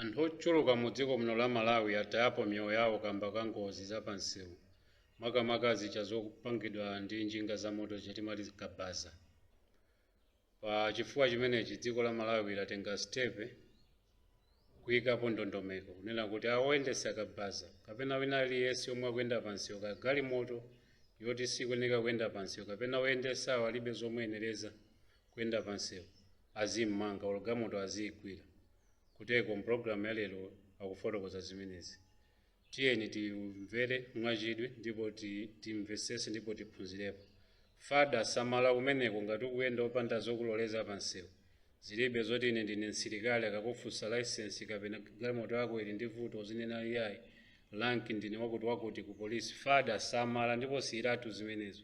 Anthu ochuluka mu dziko muno la Malawi atayapo miyoyo yawo kamba ka ngozi za pa nsewu makamaka zija zopangidwa ndi njinga za moto zija timati zikabaza. Pa chifukwa chimenechi dziko la Malawi latenga sitepe kuyikapo ndondomeko kunena kuti a oyendetsa kabaza kapena wina aliyense omwe akuyenda pa nsewu kaya galimoto yoti sikuyeneka kuyenda pa nsewu kapena oyendetsawo alibe zomuyenereza kuyenda pansewu azimmanga olo gamoto aziigwira kuteko mpulogalamu ya lero akufotokoza zimenezi tiyeni timvere mwachidwi ndipo ti- timvesese ndipo tiphunzirepo fada samala kumeneko ngati ukuyenda opanda zokuloleza pansewu zilibe zoti ine ndine msilikali akakufunsa license kapena galimoto yako ili ndi vuto uzinena iyayi lanki ndine wakuti wakuti ku polisi fada samala ndipo siyiratu zimenezo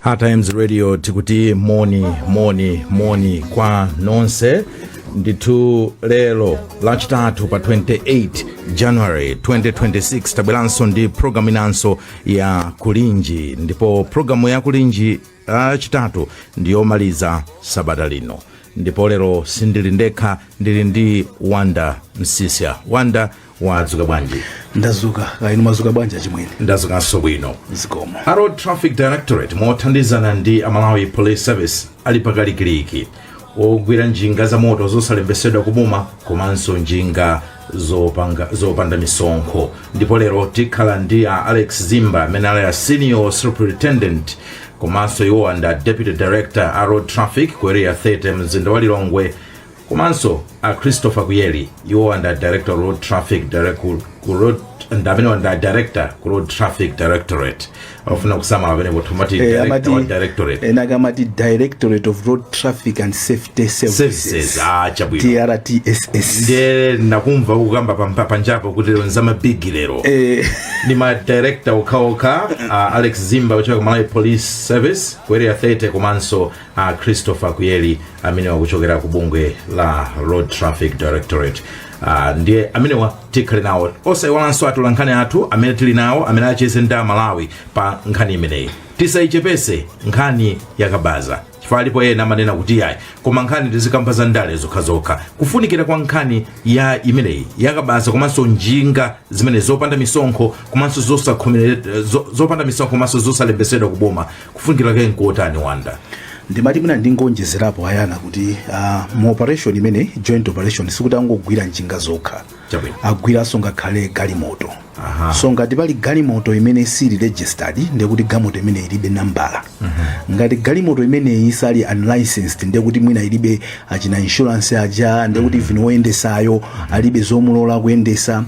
Hard Times Radio tikuti moni moni moni kwa nonse ndithu lero lachitatu pa 28 january 2026 tabweranso ndi programu inanso ya kulinji ndipo programu ya kulinji lachitatu ndiyomaliza sabata lino ndipo lero sindili ndekha ndili ndi wonder msiska wonder wadzuka bwanji ndazuka kaya inu mwazuka bwanji achimwene ndazukanso bwino zikomo a road traffic directorate mothandizana ndi amalawi police service ali pakalikiliki ogwira njinga za moto zosalembetsedwa kuboma komanso njinga zopanga, zopanda misonkho ndipo lero tikhala ndi a alex zimba amene ali a senior superintendent komanso iwowa ndi deputy director a road traffic ku area 30 mumzinda wa lilongwe komanso a christopher kuyeli iwowa ndi director road traffic direct, ku, ku road ndamene wanda director ku road traffic directorate amafuna kusamala pamene kuti mati Eh, director amati- wa directorate ena akamati directorate of road traffic and safety services services ah chabwino drtss ndiye ndakumva ukukamba pampa- panjapo kuti lero nza mabigi lero Eh, ndi ma director okhaokha uh, alex zimba kuchoka ku malawi police service ku area 30 komanso a christopher kuyeli amene akuchokera ku bungwe la road traffic directorate uh, ndiye amenewa tikhale nawo osayiwalanso atolankhani athu amene tili nawo amene acheze ndi amalawi pa nkhani imeneyi tisayichepese nkhani yakabaza chifukwa alipo ena amanena kuti yayi koma nkhani tizikamba za ndale zokhazokha kufunikira kwa nkhani ya imeneyi yakabaza komanso njinga zimene zopanda misonkho komanso zosakhomelera zo- zopanda misonkho komanso zosalembetsedwa kuboma kufunikira kake nkotani wanda ndimati mwina ndingoonjezerapo a Yona kuti uh, mu operation imene joint operation sikuti angogwira njinga zokha Chabwino. agwiranso ngakhale galimoto Aha. so ngati pali galimoto imene sili registered ndekuti galimoto imene ilibe nambala ngati galimoto imene ili unlicensed ndekuti mwina ilibe achina insurance aja ndekuti even woyendesayo alibe zomulola kuyendesa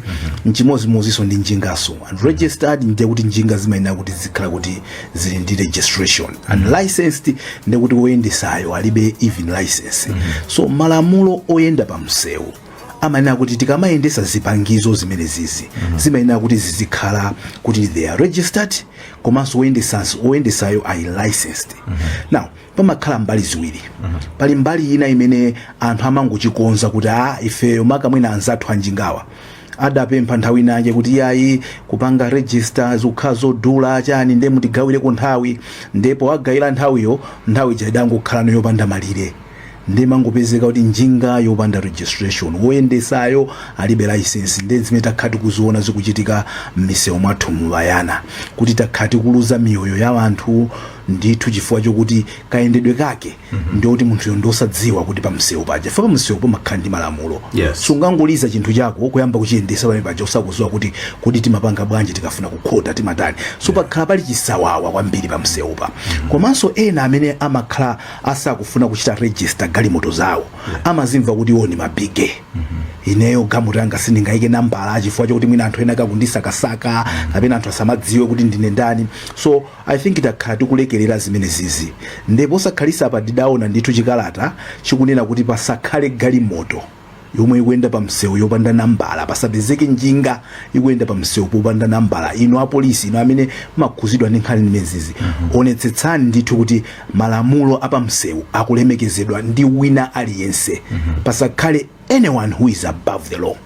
nchimodzimodzinso ndi njingaso unregistered ndekuti njinga zimayenera kuti zizikhala kuti zili ndi registration mm. unlicensed ndekuti woyendesayo alibe even license mm. so malamulo oyenda pa msewu amanena kuti tikamayendesa zipangizo zimene zizi mm -hmm. zimayenera kuti zizikhala kuti they are registered komanso woyendesayo ali licensed mm -hmm. now pamakhala mbali ziwiri mm -hmm. pali mbali ina imene anthu amangochikonza kuti a ah, ifeyo maka mwina anzathu a njingawa adapempha nthawi ina yake kuti yayi kupanga register zikukhala zodula chani nde mutigawireko nthawi nde powagawira nthawiyo nthawi ija idangokhalano yopanda malire nde imangopezeka kuti njinga yopanda registration woyendesayo alibe license nde zimene takhala tikuziona zikuchitika m'misewu mwathumu a Yona kuti takhala tikuluza miyoyo ya anthu ndithu chifukwa chokuti kayendedwe kake ndiyoti munthuyo ndiosadziwa kuti pamsewu paja pamsewu pamakhala ndi malamulo Yes. sungangoliza chinthu chako kuyamba kuchiyendesa pamene paja usakuziwa kuti kodi timapanga bwanji tikafuna kukhota timatani so pakhala pali chisawawa kwambiri pamsewupa komanso ena amene amakhala asakufuna kuchita register galimoto zawo amazimva kuti iwo ni mabige ineyo galimoto yanga sindingayike nambala chifukwa chokuti mwina anthu ena akundisakasaka kapena anthu asamadziwe kuti ndine ndani so I think takhala tikulekelera zimenezizi nde posakhalitsapa tidaona ndithu chikalata chikunena kuti pasakhale galimoto yomwe ikuyenda pa msewu yopanda nambala, pasapezeke njinga ikuyenda pa msewu popanda nambala. Inu apolisi, inu amene mumakhudzidwa ndi nkhani zimenezizi, onetsetsani ndithu kuti malamulo a pa msewu akulemekezedwa ndi wina aliyense, pasakhale anyone who is above the law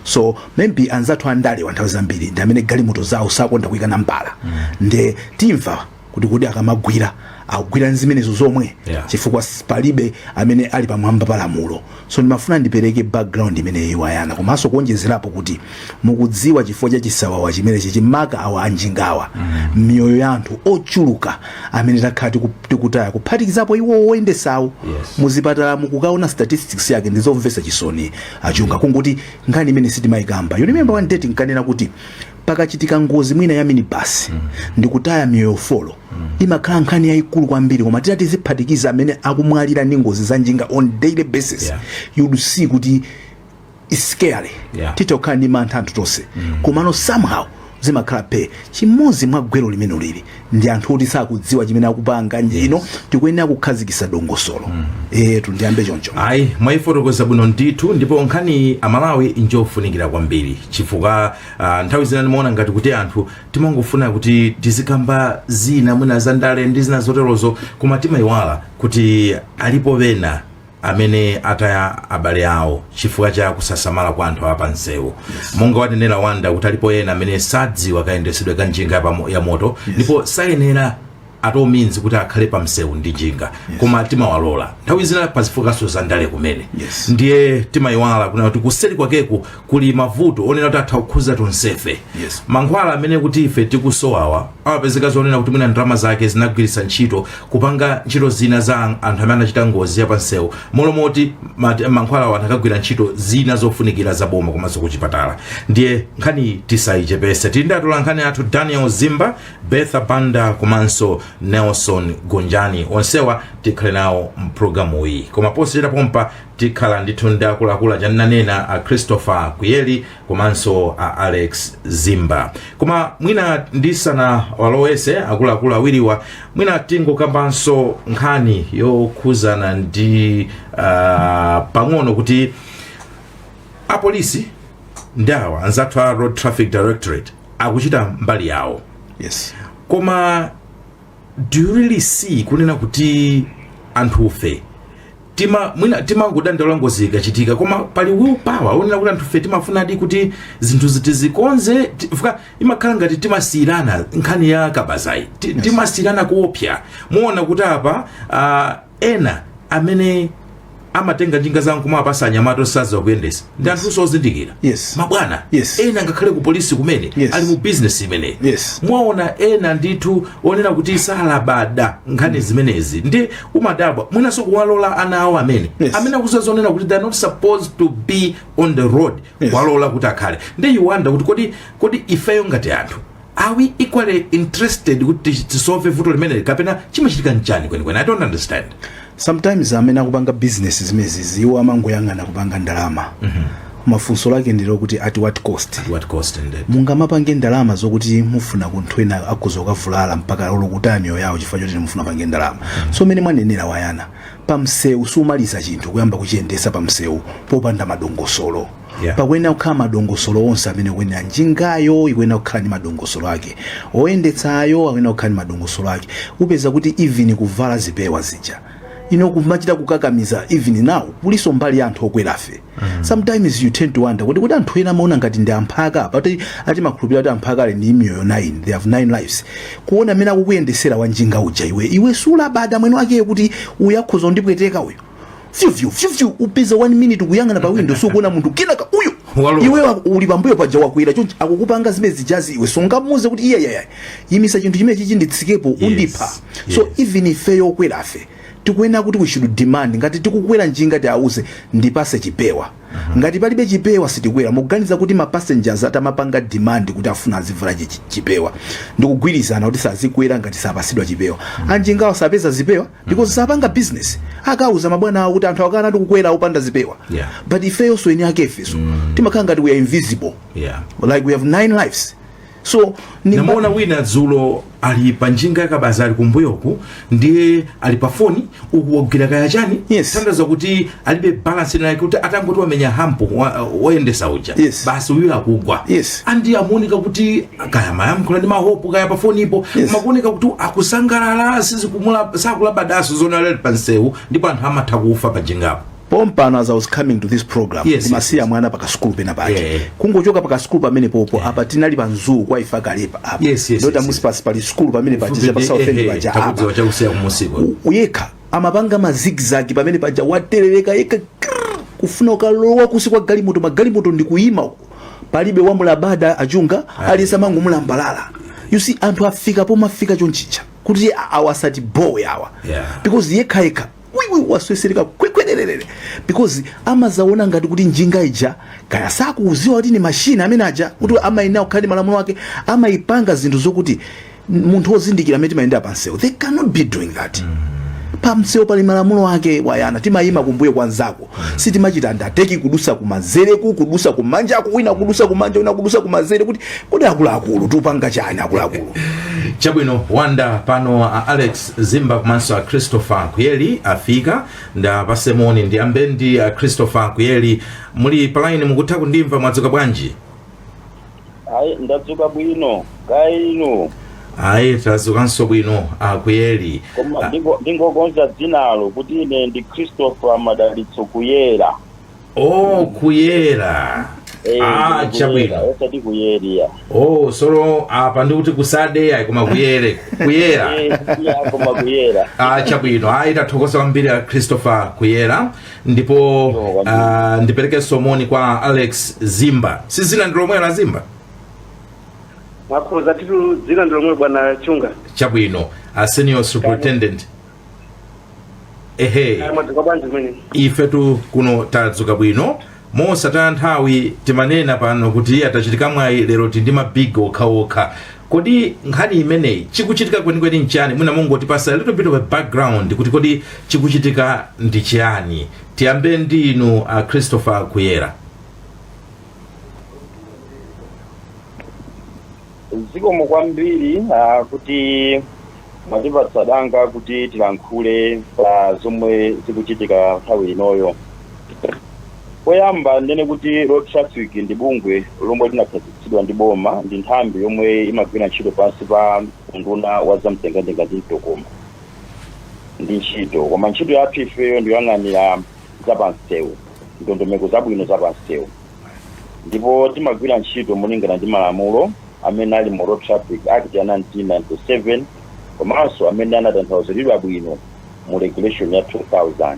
so maybe anzathu andalewa nthawi zambiri ndi amene galimoto zawo sakonda kuyika nambala nde timve kuti kodi akamagwira akugwira nzimenezo zomwe Yeah. chifukwa s- palibe amene ali pamwamba pa lamulo so ndimafuna ndipereke background imeneyi a Yona komanso kuonjezerapo kuti mukudziwa chifukwa cha chisawawa chimenechi maka awa a njingawa miyoyo ya anthu ochuluka amene takhala tiku- tikutaya kuphatikizapo iwo oyendesawo Yes. muzipatalamu kukaona statistics yake ndizomvetsa chisoni a Chunga kungoti nkhani imene sitimayikamba you remember one day tinkanena kuti pakachitika ngozi mwina ya minibasi ndikutaya miyoyo folo imakhala nkhani yayikulu kwambiri koma titati tiziphatikiza amene akumwalira ndi ngozi za njinga on daily basis Yeah. you'd see kuti It's scary Yeah. titokhala ndi mantha anthu tonse komano somehow zimakhalabe chimodzi mwa gwero limene lili ndi anthu oti sakudziwa chimene akupanga ndiyeno tikuyenera kukhazikisa dongosolo etu ndiyambe choncho ayi mwayifotokoza bwino ndithu ndipo nkhani amalawi njofunikira kwambiri chifukwa ah, nthawi zina ndimaona ngati kuti anthu timangofuna kuti tizikamba zina mwina zandale ndi zina zoterozo koma timayiwala kuti alipo ena amene ataya abale awo chifukwa cha kusasamala kwa anthu a pamsewu monga wanenera wanda kuti alipo ena amene sadziwa kayendesedwe ka njinga yapamo- ya moto ndipo sayenera at all means kuti akhale pa msewu ndi njinga koma timawalola nthawi zina pazifukwanso za ndale kumene Yes. ndiye timayiwala kunena kuti kuseri kwakeku kuli mavuto onena kuti atha kukhuza tonsefe Yes. mankhwala amene kuti ife tikusowawa amapezeka zonena kuti mwina ndalama zake zinagwiritsa ntchito kupanga ntchito zina za an- anthu amene anachita ngozi ya pansewu m'malo mokuti mate- mankhwalawo anakagwira ntchito zina zofunikira za boma komanso kuchipatala ndiye nkhaniyi tisayichepese tili ndi atola nkhani athu daniel zimba bertha banda komanso nelson gonjani onsewa tikhale nawo mpulogalamu iyi koma posachedwa pompa tikhala ndithu ndi akuluakulu chananena a christopher kuyeli komanso a alex zimba koma mwina ndisanawalowese akuluakulu awiriwa mwina tingokambanso nkhani yokhuzana ndi uh, pang'ono kuti apolisi ndi awa anzathu a road traffic directorate akuchita mbali yawo yes koma do you really see kunena kuti anthufe tima mwina timangodandaula ngozi ikachitika koma pali will power onena kuti anthufe timafunadi kuti zinthuzi tizikonze chifukwa imakhala ngati timasiyirana nkhani ya kabazayi Ti- timasiyirana kuopsa muona kuti apa ah, ena amene amatenga njinga zawo kumawapasa anyamata osadziwa kuyendesa ndi anthunso ozindikira Yes. mabwana Yes. ena ngakhale ku polisi kumene Yes. ali mu bizinesi imeneyi Yes. mwaona ena ndithu onena kuti salabada nkhani zimenezi ndiye umadabwa mwinanso kuwalola ana awo amene Yes. amene akuziwa zonena kuti they are not supposed to be on the road Yes. kuwalola kuti akhale ndiye you wonder kuti kodi kodi ifeyo ngati anthu are we equally interested kuti tisolve vuto limeneli kapena chimachitika nchani kwenikweni i don't understand sometimes amene akupanga business zimenezi iwo amangoyang'ana kupanga ndalama koma funso lake ndi lokuti at what cost at what cost indeed mungamapange ndalama zokuti mufuna kuti anthu ena akhoza kukavulala mpaka olo kutaya miyoyo yawo chifukwa choti mufuna mupange ndalama so mmene mwanenera wayana pamsewu sumaliza chinthu kuyamba kuchiyendesa pamsewu popanda madongosolo Yeah. pakuyenera kukhala madongosolo onse amene kuyenera njingayo ikuyenera kukhala ndi madongosolo ake oyendetsayo akuyenera kukhala ndi madongosolo ake mupeza kuti even kuvala zipewa zija ino kumachita kukakamiza even now kulinso mbali ya anthu okwerafe sometimes you tend to wonder kuti kuti anthu ena amaona ngati ndi amphaka paja amati makhulupirira kuti amphaka ali ndi miyoyo 9 they have 9 lives kuona amene akukuyendetsera wanjinga uja iwe iwe sulabada mmene wakhalira kuti uyu akhoza kundipweteka uyu fyufyu fyufyu mupeza 1 minute kuyang'ana pa window sukuona munthu kenaka uyo Walowa. iwe wa- uli pambuyo paja wakwera chonchi akukupanga zimene zijazi iwe sungamuuze kuti iye yaya imitsa chinthu chimene chichi nditsikepo undipha so yes. even ifeyo okwerafe tikuyenera kuti we should demand ngati tikukwera njinga tiwauze ndipatse chipewa ngati palibe chipewa sitikwera mukuganiza kuti ma passengers atamapanga demand kuti akufuna azivala chi- chi- chipewa ndikugwirizana kuti sadzikwera ngati sapatsidwa chipewa anjingawo sapeza zipewa because sapanga business akauza mabwana awo kuti anthu akana ati kukwera opanda zipewa Yeah. but ifeyonso eni akefenso timakhala ngati we are invisible yeah like we have nine lives so ni ndinamuona wina dzulo ali pa njinga yakabaza ali kumbuyoku ndiye ali pa foni uku wagwira kaya chani Yes. tanthauza kuti alibe balance ina yake kuti atangoti wamenya hump wa- woyendetsa uja Yes. basi uyu akugwa Yes. and akuoneka kuti kaya amayankhula ndi mahope kaya pafonipo Yes. akuoneka kuti akusangalala sizikumula sakulabadanso zoti ali pa msewu ndipo anthu amatha kufa pa njingapo pompano as i was coming to this program Yes, kumusiya yes, mwana pakasukulu pena pake Yeah. kungochoka pakasukulu pamene popo apa tinali pa msewu kwa ifa kalepa apa Yes, yes, ndota yes, municipal sukulu pamene pachiza pa south end paja apa takudziwa chakusiya kumusiko yekha amapanga ma zigzag pamene paja watereleka yekha krrr, kufuna kukalowa kunsi kwa galimoto magalimoto ndi kuyima uko palibe wamulabada achunga aliyense amangomulambalala you see anthu afika pomafika chonchija kuti a- awa asatibowe awa Yeah. because yekha yekha uyu watsetsereka kwekwererere because amadzaona ngati kuti njinga ija kaya sakudziwa kuti ni mashini amene uja kuti amayenera kukhala ndi malamulo ake amayipanga zinthu zokuti munthu wozindikira amene timayenda pa msewu they cannot be doing that pa msewu pali malamulo ake tayima timayima kumbuyo kwa nzako sitimachita overtake kudutsa kumanzereku kudutsa kumanjako wina kudutsa kumanja wina kudutsa kumanzere kuti kodi akuluakulu tikupanga chani akuluakulu chabwino panthawi ino a alex zimba komanso a christopher kuyeli afika ndawapatse moni ndiyambe ndi a christopher kuyeli muli palaini mukutha kundimva mwadzuka bwanji Ayi, ndadzuka bwino. Kaya inu? Ayi, tadzukanso bwino Akuyeli. Koma A- ndingo- ndingokonza dzinalo kuti ine ndi Christopher Madalitso Kuyera. Oh, Kuyera. Eh, Ah, ndine Kuyera, chabwino. osati Kuyeria. Oh, sorry apa ndikuti kusade ayi koma kuyere. Kuyera. Eh, iya, koma Kuyera. Ah, chabwino. Ayi tathokoza kwambiri a Christopher Kuyera. ndipo ah, ndipereke moni kwa alex zimba si zina ndi lomwe la zimba mwakhoza titu dzina ndi lomwe bwana chunga chabwino a senior superintendent ehe mwadzuka bwanji kumene ifetu kuno tadzuka bwino Mosataya nthawi timanena pano kuti iya tachitika mwayi lero tili ndi ma big okhaokha. Kodi nkhani imeneyi chikuchitika kwenikweni nchiyani? Mwina mungotipatsa a little bit of a background kuti kodi chikuchitika ndi chiyani? Tiyambe ndi inu a Christopher Kuyera. Zikomo kwambiri ah, kuti mwatipatsa danga kuti tilankhule pa zomwe zikuchitika nthawi inoyo. Poyamba ndinene kuti road traffic ndi bungwe lomwe linakhazikitsidwa ndi boma ndi nthambi yomwe imagwira ntchito pansi pa unduna wa zamtengatenga ndi mitokoma ndi ntchito koma ntchito yathu ifeyo ndi yoyang'anira zapansewu ndondomeko zabwino zapansewu ndipo timagwira ntchito malingana ndi malamulo amene ali mu Road Traffic Act ya 1997 komanso amene anatanthauziridwa bwino mu regulation ya 2000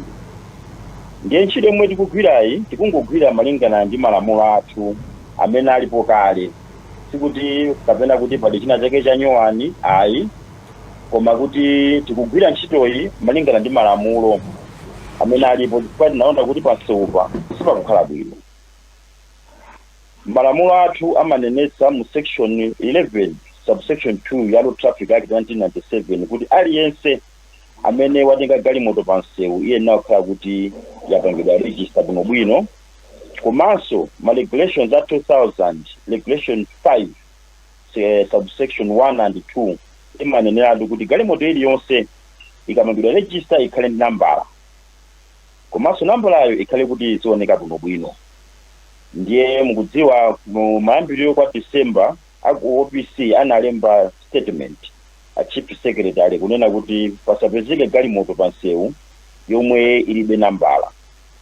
ndiye ntchito yomwe tikugwirayi tikungogwira malingana ndi malamulo athu amene alipo kale sikuti kapena kuti pali china chake chanyowani ayi koma kuti tikugwira ntchitoyi malingana ndi malamulo amene alipo chifukwa tinaona kuti pansewupa sipakukhala bwino malamulo athu amanenetsa mu section 11 subsection 2 ya road traffic act 1997 kuti aliyense amene watenga galimoto pa msewu iyenera kukhala kuti yapangidwa register bwinobwino komanso ma regulations a 2000 regulation 5 eh, subsection 1 and 2 imaneneratu kuti galimoto iliyonse ikapangidwa register ikhale ndi nambala komanso nambalayo ikhale kuti izioneka bwinobwino ndiye mukudziwa mu mayambiriro kwa december aku opc analemba statement a chief secretary kunena kuti pasapezeke galimoto pa msewu yomwe ilibe nambala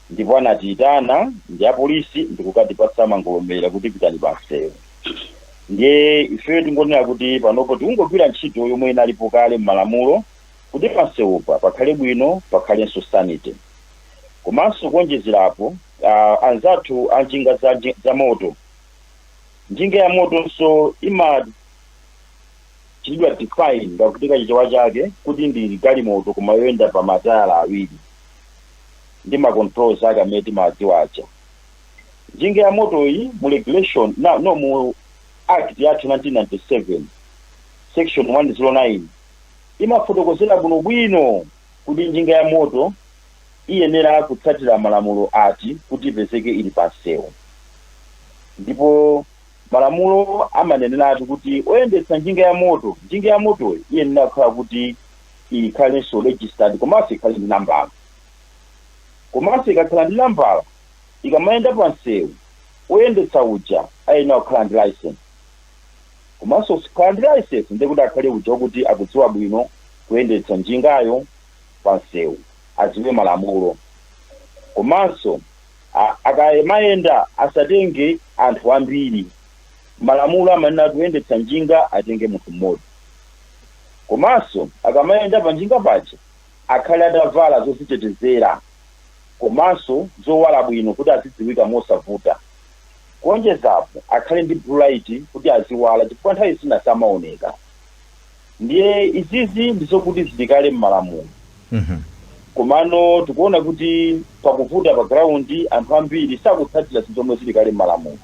ndipo anatiitana ndi apolisi ndikukatipatsa mangolomera kuti pitani pa msewu ndiye ifeyo tingonena kuti panopo tikungogwira ntchito yomwe inalipo kale m'malamulo kuti pa msewupa pakhale bwino pakhalenso sanity komanso kuonjezerapo uh, anzathu a njinga za, nji- za moto njinga ya motonso imachitidwa define ngati kuti kachichewa chake kuti ndi galimoto koma yoyenda pa matayala awiri ndi ma controls ake amene timawadziwa aja. Njinga ya motoyi mu regulation na, no mu act yathu ya 1997 section 109 imafotokozera bwinobwino kuti njinga ya moto iyenera kutsatira malamulo ati kuti ipezeke ili pa msewu ndipo malamulo amaneneratu kuti oyendetsa njinga ya moto njinga ya motoyi iyenera kukhala kuti ikhalenso registered komanso ikhale ndi nambala komanso ikakhala ndi nambala ikamayenda pa msewu oyendetsa uja ayenera kukhala ndi license komanso kukhala ndi license ndiye kuti akhale uja wokuti akudziwa bwino kuyendetsa njingayo pa msewu adziwe malamulo komanso a- akamayenda asatenge anthu ambiri malamulo amanena kuti woyendetsa njinga atenge munthu mmodzi Komanso akamayenda panjinga paja akhale atavala zozitetezera komanso zowala bwino kuti azidziwika mosavuta. Kuonjezapo akhale ndi blue light kuti aziwala chifukwa nthawi zina samaoneka. Ndiye izizi ndizokuti zili kale mmalamulo komano tikuona kuti pakuvuta pa ground anthu ambiri sakutsatira zinthu zomwe zili kale mmalamulo.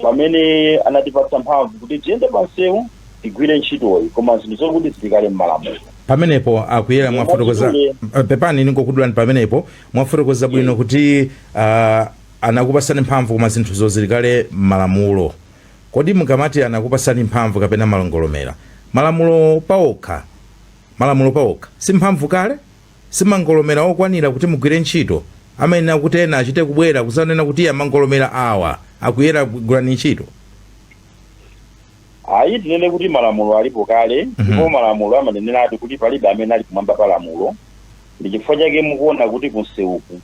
pamene anatipatsa mphamvu kuti tiyende pansewu tigwire ntchitoyi koma zinthu zokuti zili kale mmalamulo pamenepo a Kuyera mwafotokoza pepani ningokudulani pamenepo mwafotokoza bwino kuti uh, anakupasani mphamvu koma zinthu zoti zili kale mmalamulo kodi mukamati anakupasani mphamvu kapena mangolomera malamulo paokha malamulo paokha si mphamvu kale si mangolomera okwanira kuti mugwire ntchito, amayenera kuti ena achite kubwera kudzanena kuti ya mangolomera awa a Kuyera gwirani ntchito. Ayi tinene kuti malamulo alipo kale Mhm. ndipo malamulo amaneneratu kuti palibe amene ali kumwamba pa lamulo ndi chifukwa chake mukuona kuti kunsewuku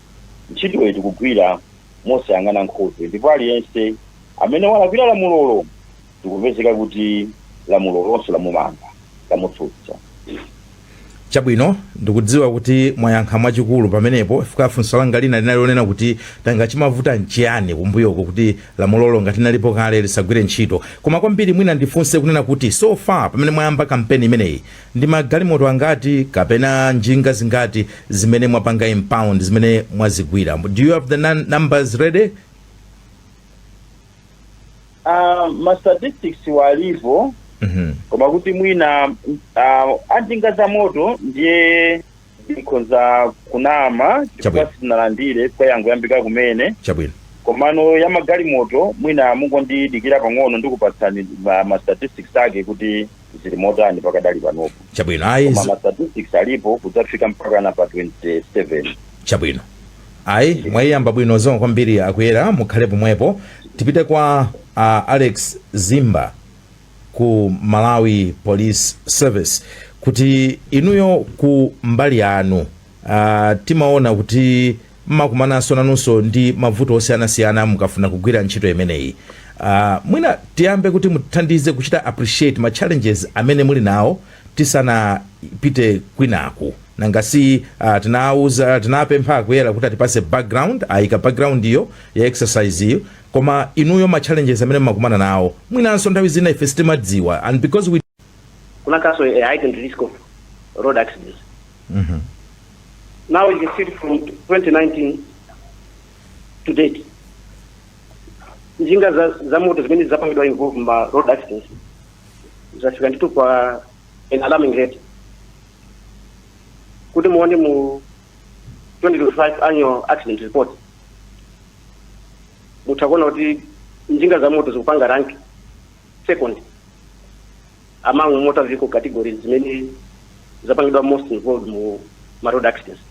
ntchitoyo tikugwira mosayang'ana nkhope ndipo aliyense amene walakwira lamulolo zikupezeka kuti lamulo lonse lamumanga, lamutsutsa. Chabwino, ndikudziwa kuti mwayankha mwachikulu pamenepo chifukwa funso langa lina linali lonena kuti nanga chimavuta nchiyani kumbuyoko kuti lamulolo ngati linalipo kale lisagwire ntchito. Koma kwambiri mwina ndifunse kunena kuti so far pamene mwayamba kampeni imeneyi, ndi magalimoto angati kapena njinga zingati zimene mwapanga impound, zimene mwazigwira? Do you have the nu numbers ready? Ah, ma statistics wo alipo Mhm. koma kuti mwina uh, anjinga za moto ndiye ndikhonza kunama chifukwa Chabwino. sitinalandire kwangoyambika kumene chabwino komano ya magalimoto mwina mungondidikira pang'ono ndikupatsani ma, ma statistics ake kuti zili motani pakadali panopo chabwino ayi koma zi- ma statistics alipo kudzafika mpakana pa 27 chabwino ayi mwayiyamba bwino zikomo kwambiri akuyera mukhale pomwepo tipite kwa uh, alex zimba ku malawi police service kuti inuyo ku mbali yanu Aaa timaona kuti mmakumananso nanunso ndi mavuto osiyanasiyana mukafuna kugwira ntchito imeneyi. Aaa mwina tiyambe kuti mutithandize kuchita appreciate ma challenges amene muli nawo tisanapite kwinaku. Nanga si aah tinapempha akuyera kuti atipatse background, ayika background yo ya exercise yo koma inuyo ma challenges amene mmakumana nawo mwinanso nthawi zina ife sitimadziwa and because we. kunakhalanso a heightened risk of road accidents now you can see from 2019 to date njinga za, za moto zimene zapangidwa involve ma road accidents zafika ndithu pa an alarming rate kuti muona mu 2025 annual accident report mutha kuona kuti njinga za moto zikupanga rank Second, among motor vehicle categories zimene zapangidwa most involved mu ma road accidents.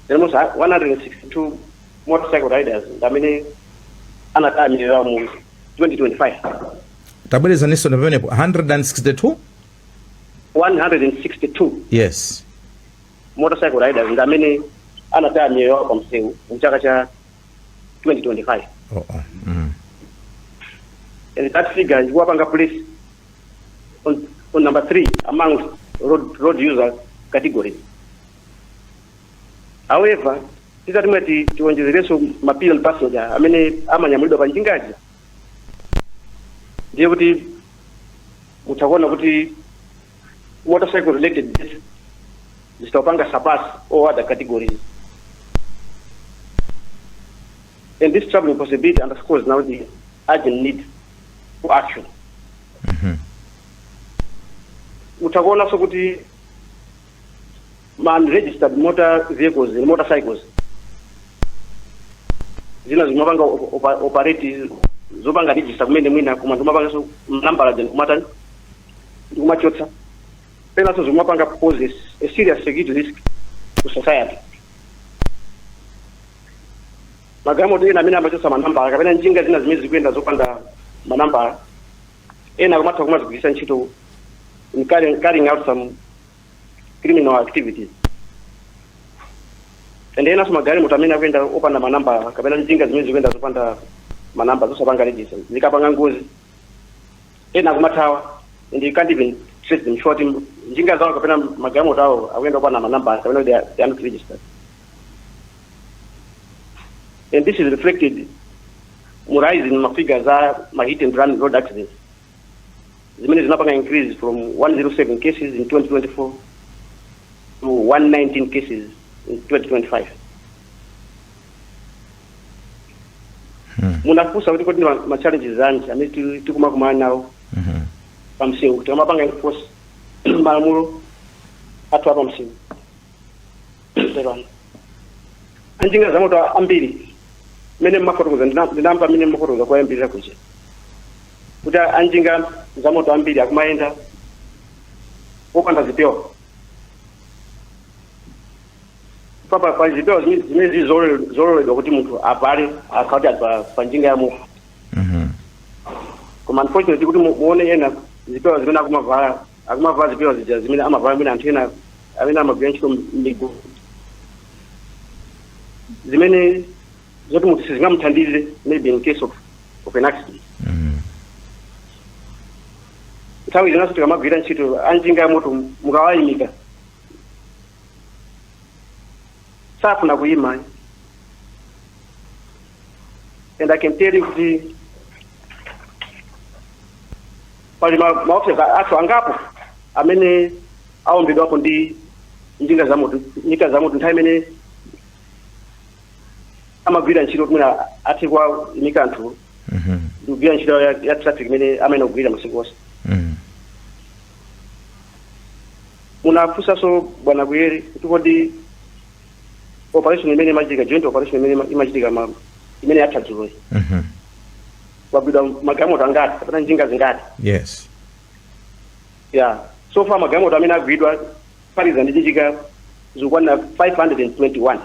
There was 162 motorcycle riders ndi amene anataya miyoyo yawo mu 2025. tabwerezaninso ndi pamenepo 162 162 yes motorcycle riders ndi amene anataya miyoyo yawo pa msewu mu chaka cha 2025 Oh, oh. Mm. and that figure ikuwapanga place on, on number three amongst road, road user categories. However, titati mwina tiwonjezereso ma pillion passenger amene amanyamulidwa pa njingazi ndiye kuti mutha kuona kuti motorcycle related death zitha kupanga surpass all other categories and this troubling possibility underscores now the urgent need for action mutha kuonanso kuti ma unregistered motor vehicles and motorcycles zina zimapanga op- opa- operate zopanga register kumene mwina koma ndi mapanganso nambala zen kumatani ndikumachotsa zinanso zikumapanga pose a serious security risk to society magalimoto ena amene amachotsa manambala kapena njinga zina zimene zikuyenda zopanda manambala ena akumatha kumazigwiritsa ntchito in carrying, carrying out some criminal activities and enanso magalimoto amene akuyenda opanda manambala kapena njinga zimene zikuyenda zopanda manamba zosapanga register zikapanga ngozi ena akumathawa and can't even trace them chifukwa kuti njinga zawo kapena magalimoto awo akumayenda opanda manambala kapena they are they are not registered and this is reflected mu rise in mafigures a ma hit and run road accidents zimene zinapanga increase from 107 cases in 2024 to 119 cases in 2025 Hmm. munafunsa kuti kodi ndi ma- ma challenges anji amene tili- tikumakumana nawo Mhm. pamsewu kuti amapanga enforce malamulo athu apamsewu anjinga za moto ambiri mmene mmafotokoza ndina- ndinamva mmene mmafotokoza kuyambirira kuja kuti anjinga za moto ambiri akumayenda opanda zipewa pa pa pa zipewa zimene zimene zili zololedwa zololedwa kuti munthu avale akakwera pa njinga ya moto Mhm. koma unfortunately kuti mu- muone ena zipewa zimene akumavala akumavala zipewa zija zimene amavala amene anthu ena amene amagwira ntchito mmigodi zimene zoti munthu sizingamuthandize maybe in case of, of an accident Mhm. nthawi zinanso tikamagwira ntchito anjinga ya moto mukawayimika safuna kuyima ayi. and i can tell you kuti pali ma- maofesala athu angapo amene aombedwapo ndi njinga za moto njinga za moto nthawi imene amagwira ntchito imene ati kuwaimika anthu Mhm. ndikugwira ntchito ya, ya traffic imene amayenera kugwira masiku onse Mhm. Munafunsaso bwana Kuyere kuti kodi operation imene imachitika joint operation imene ima- imachitika ma imene yatha dzuloyi Mhm. agwidwa magalimoto angati kapena njinga zingati yes ya so far magalimoto amene agwidwa kuphatikiza ndi njinga zikukwana 521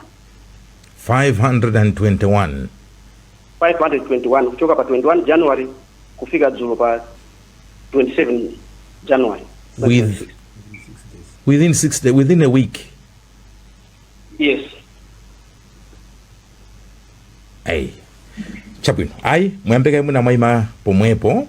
521 521 kuchoka pa 21 january kufika dzulo pa 27 January. With, within six days, within a week. Yes. Hey. chabwino ayi muyambe kaye mwina mwayima pomwepo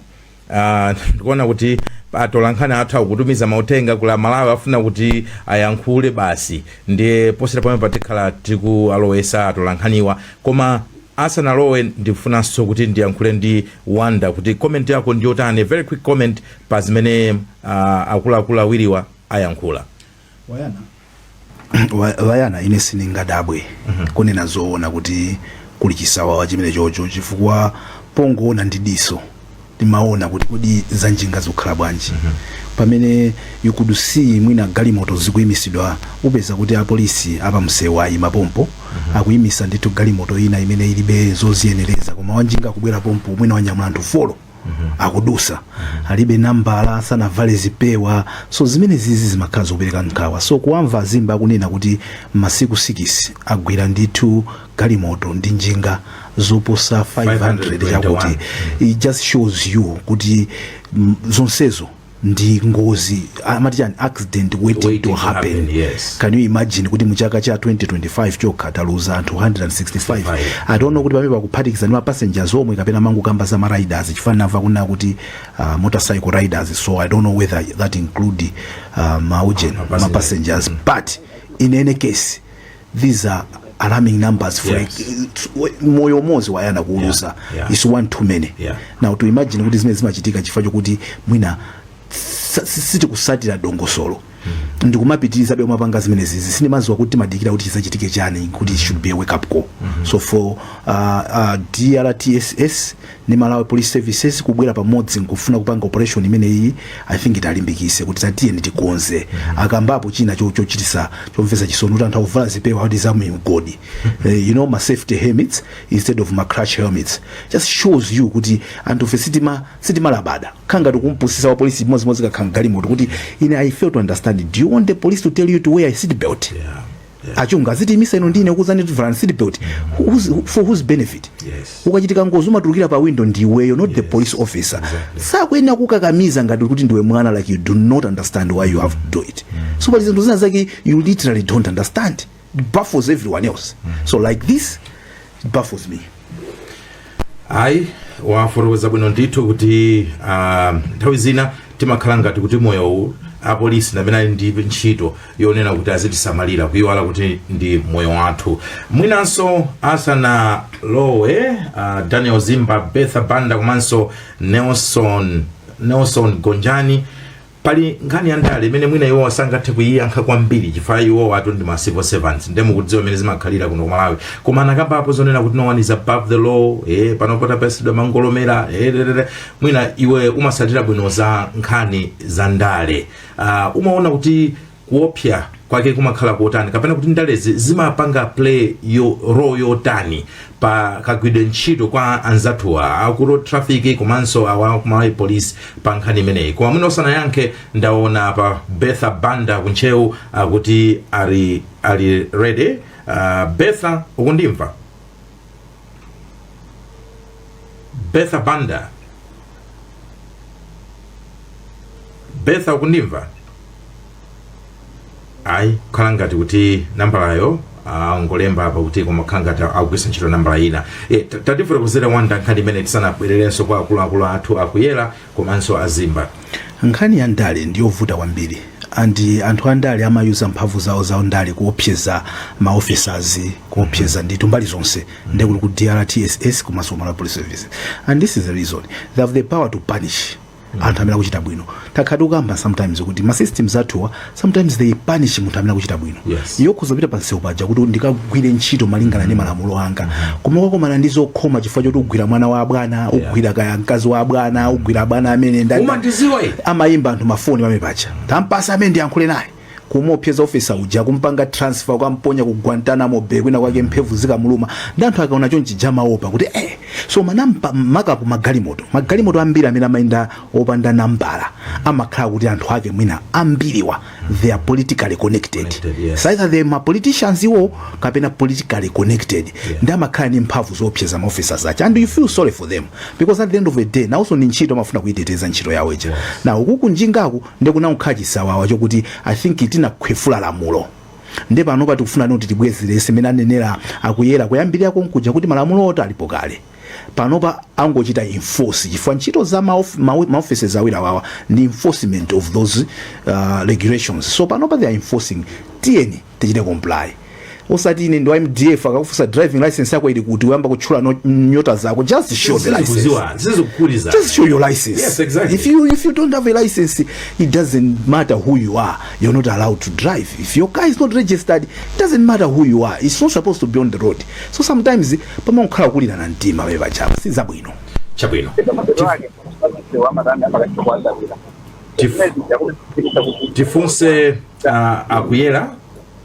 Ah, ndikuona kuti atolankhani athu akutumiza mauthenga kuli a Malawi afuna kuti ayankhule basi ndiye posachedwa pomwepa tikhala tikualowesa atolankhaniwa koma Asanalowe ndikufunanso kuti ndiyankhule ndi Wonder kuti comment yako ndiyotani, a very quick comment pa zimene uh, akuluakulu awiriwa ayankhula. Wayana, wa- wayana ine sindingadabwe kunena zoona kuti kuli chisawawa chimenecho chifukwa pongoona ndi diso timaona kuti kodi za njinga zikukhala bwanji pamene you could see mwina galimoto zikuimisidwa upeza kuti apolisi apamsewu ayima pompo akuyimisa ndithu galimoto ina imene ilibe zoziyenereza koma wanjinga akubwera pompo mwina wanyamula anthu folo akudusa alibe nambala sanavale zipewa so zimene zizi zimakhala zopereka nkhawa so kuwamva a Zimba akunena kuti masiku sikisi agwira ndithu galimoto ndi njinga zoposa 500 chakuti it just shows you kuti mm, zonsezo ndi ngozi amati an accident waiting, Waiting to to happen, happen, yes. can you imagine kuti muchaka cha 2025 chokha taluza anthu 165 I don't know kuti pamene pakuphatikiza ndi mapassengers omwe kapena mangokamba za mariders chifukwa namva kunena kuti uh, motorcycle riders so i don't know whether that include uh, maujeni mapassengers but in any case these are alarming numbers for Yes. it's- we- moyo umodzi wa ana kuuluza Yeah, yeah. is one too many Yeah. now to imagine kuti zimene zimachitika chifukwa chokuti mwina sa- si- sitikusatira dongosolo ndikumapitirizabe kumapanga zimene zizi sindimaziwa kuti timadikira kuti chizachitike chani kuti it should be a wake up call so for uh, uh, drtss ndi Malawi police services kubwela pamodzi nkufuna kupanga operation imeneyiyi I think itilimbikise kuti tatiyeni tikonze akambapo china cho- chochitisa chomvesa chisoni kuti anthu akuvala zipewa kuti za mu mgodi Eh, you know ma safety helmets instead of ma crash helmets just shows you kuti anthufe sitima sitimalabada timakhala ngati tikumpusisa wa polisi imodzimodzi akakhala mgalimoto kuti ine I fail to understand do you want the police to tell you to wear a seat belt yeah. achita kuzitiimisa inu ndinakuuzani kuvala seat belt who's, who- for whose benefit Yes. ikachitika ngozi umatulukira pa window ndiweyo not the police officer sakuyenera kukakamiza ngati kuti ndiwe mwana like you do not understand why you have to do it so pali zinthu zina zake you literally don't understand It baffles everyone else so like this it baffles me ayi wafotokoza bwino ndithu kuti ah, nthawi zina timakhala ngati kuti moyowu apolisi ndi amene ali ndi ntchito yonena kuti azitisamalira kuyiwala kuti ndi moyo wathu mwinanso asanalowe ah, daniel zimba betha banda komanso nelson nelson gonjani Pali nkhani ya ndale imene mwina iwowa sangathe kuiyankha kwambiri chifukwa iwowatu ndi ma civil servants nde mukudziwa mmene zimakhalira kuno ku Malawi koma anakambapo zonena kuti no one is above the law eh, pano pothapsidwa mangolomera eh, dedede. mwina iwe umasatira bwino za nkhani za ndale uh, umaona kuti kuopsa kwake kumakhala kotani kapena kuti ndalezi zimapanga play role yotani pa kagwidwe ntchito kwa anzathuwa aku road traffic komanso awa ku Malawi police pa nkhani imeneyi koma mwina usanayankhe ndaona apa betha banda kuntcheu akuti ali ali ready uh, betha ukundimva betha banda betha ukundimva ayi kukhala ngati kuti nambalayo angolemba apa kuti koma kukhala ngati akugwiritsa ntchito nambala ina e, tatifotokozerani za nkhani imene tisanabwererenso kwa akuluakulu athu a Kuyera komanso a Zimba. Nkhani ya ndale ndi yovuta kwambiri and anthu andale amayuza mphamvu zawo za ndale kuopseza ma officers kuopseza ndithu mbali zonse nde kuti ku DRTSS komanso ku Malawi Police Service and this is the reason they have the power to punish anthu amene akuchita bwino takhala tikukamba sometimes kuti ma systems athuwa sometimes they punish munthu amene akuchita bwino yes. iyo kupita pa msewu paja kuti ndikagwire ntchito malingana ndi malamulo anga mm-hmm. koma ukakumana ndi zokhoma chifukwa choti ugwira mwana wa abwana ugwira kaya mkazi wa abwana ugwira abwana amene amayimba anthu mafoni pamene paja tampatsa ameneyo ndiyankhule naye kumuopseza ofisa uja kumpanga transfer kukamponya ku Guantanamo Bay kwina kwake mphemvu zikamulume nde anthu akaona chonchija amaopa kuti eh so manampa makapu magalimoto magalimoto ambiri amene amayenda opanda nambala amakhala kuti anthu ake mwina ambiriwa they are politically connected Connected, yes. So either they are politicians iwo kapena politically connected nde amakhala ndi mphamvu zoopseza ma officers aja and you feel sorry for them because at the end of the day nawonso ndi ntchito amafuna kuyiteteza ntchito yawo ija now uku kunjingaku nde kunakhala chisawawa chokuti i think tinakhwefula lamulo nde pano patikufuna kuti tibwezeretse mmene anenera a Kuyera kuyambirira konkuja kuti malamulowotu alipo kale panopa angochita enforce chifukwa ntchito za maof- mawe- maoffices awiri awawa ndi enforcement of those uh, regulations so panopa they are enforcing tiyeni tichite comply osati ine ndi wa mdf akakufunsa driving license yako ili kuti uyamba kutchula nyo- nyota zako just show the license just show your license Yes, exactly. if you if you don't have a license it doesn't matter who you are you're not allowed to drive if your car is not registered it doesn't matter who you are it's not supposed to be on the road so sometimes pamangokhala kukulirana mtima pamenepaja apa si zabwino chabwino Tif- Tif- tifunse uh, a Kuyera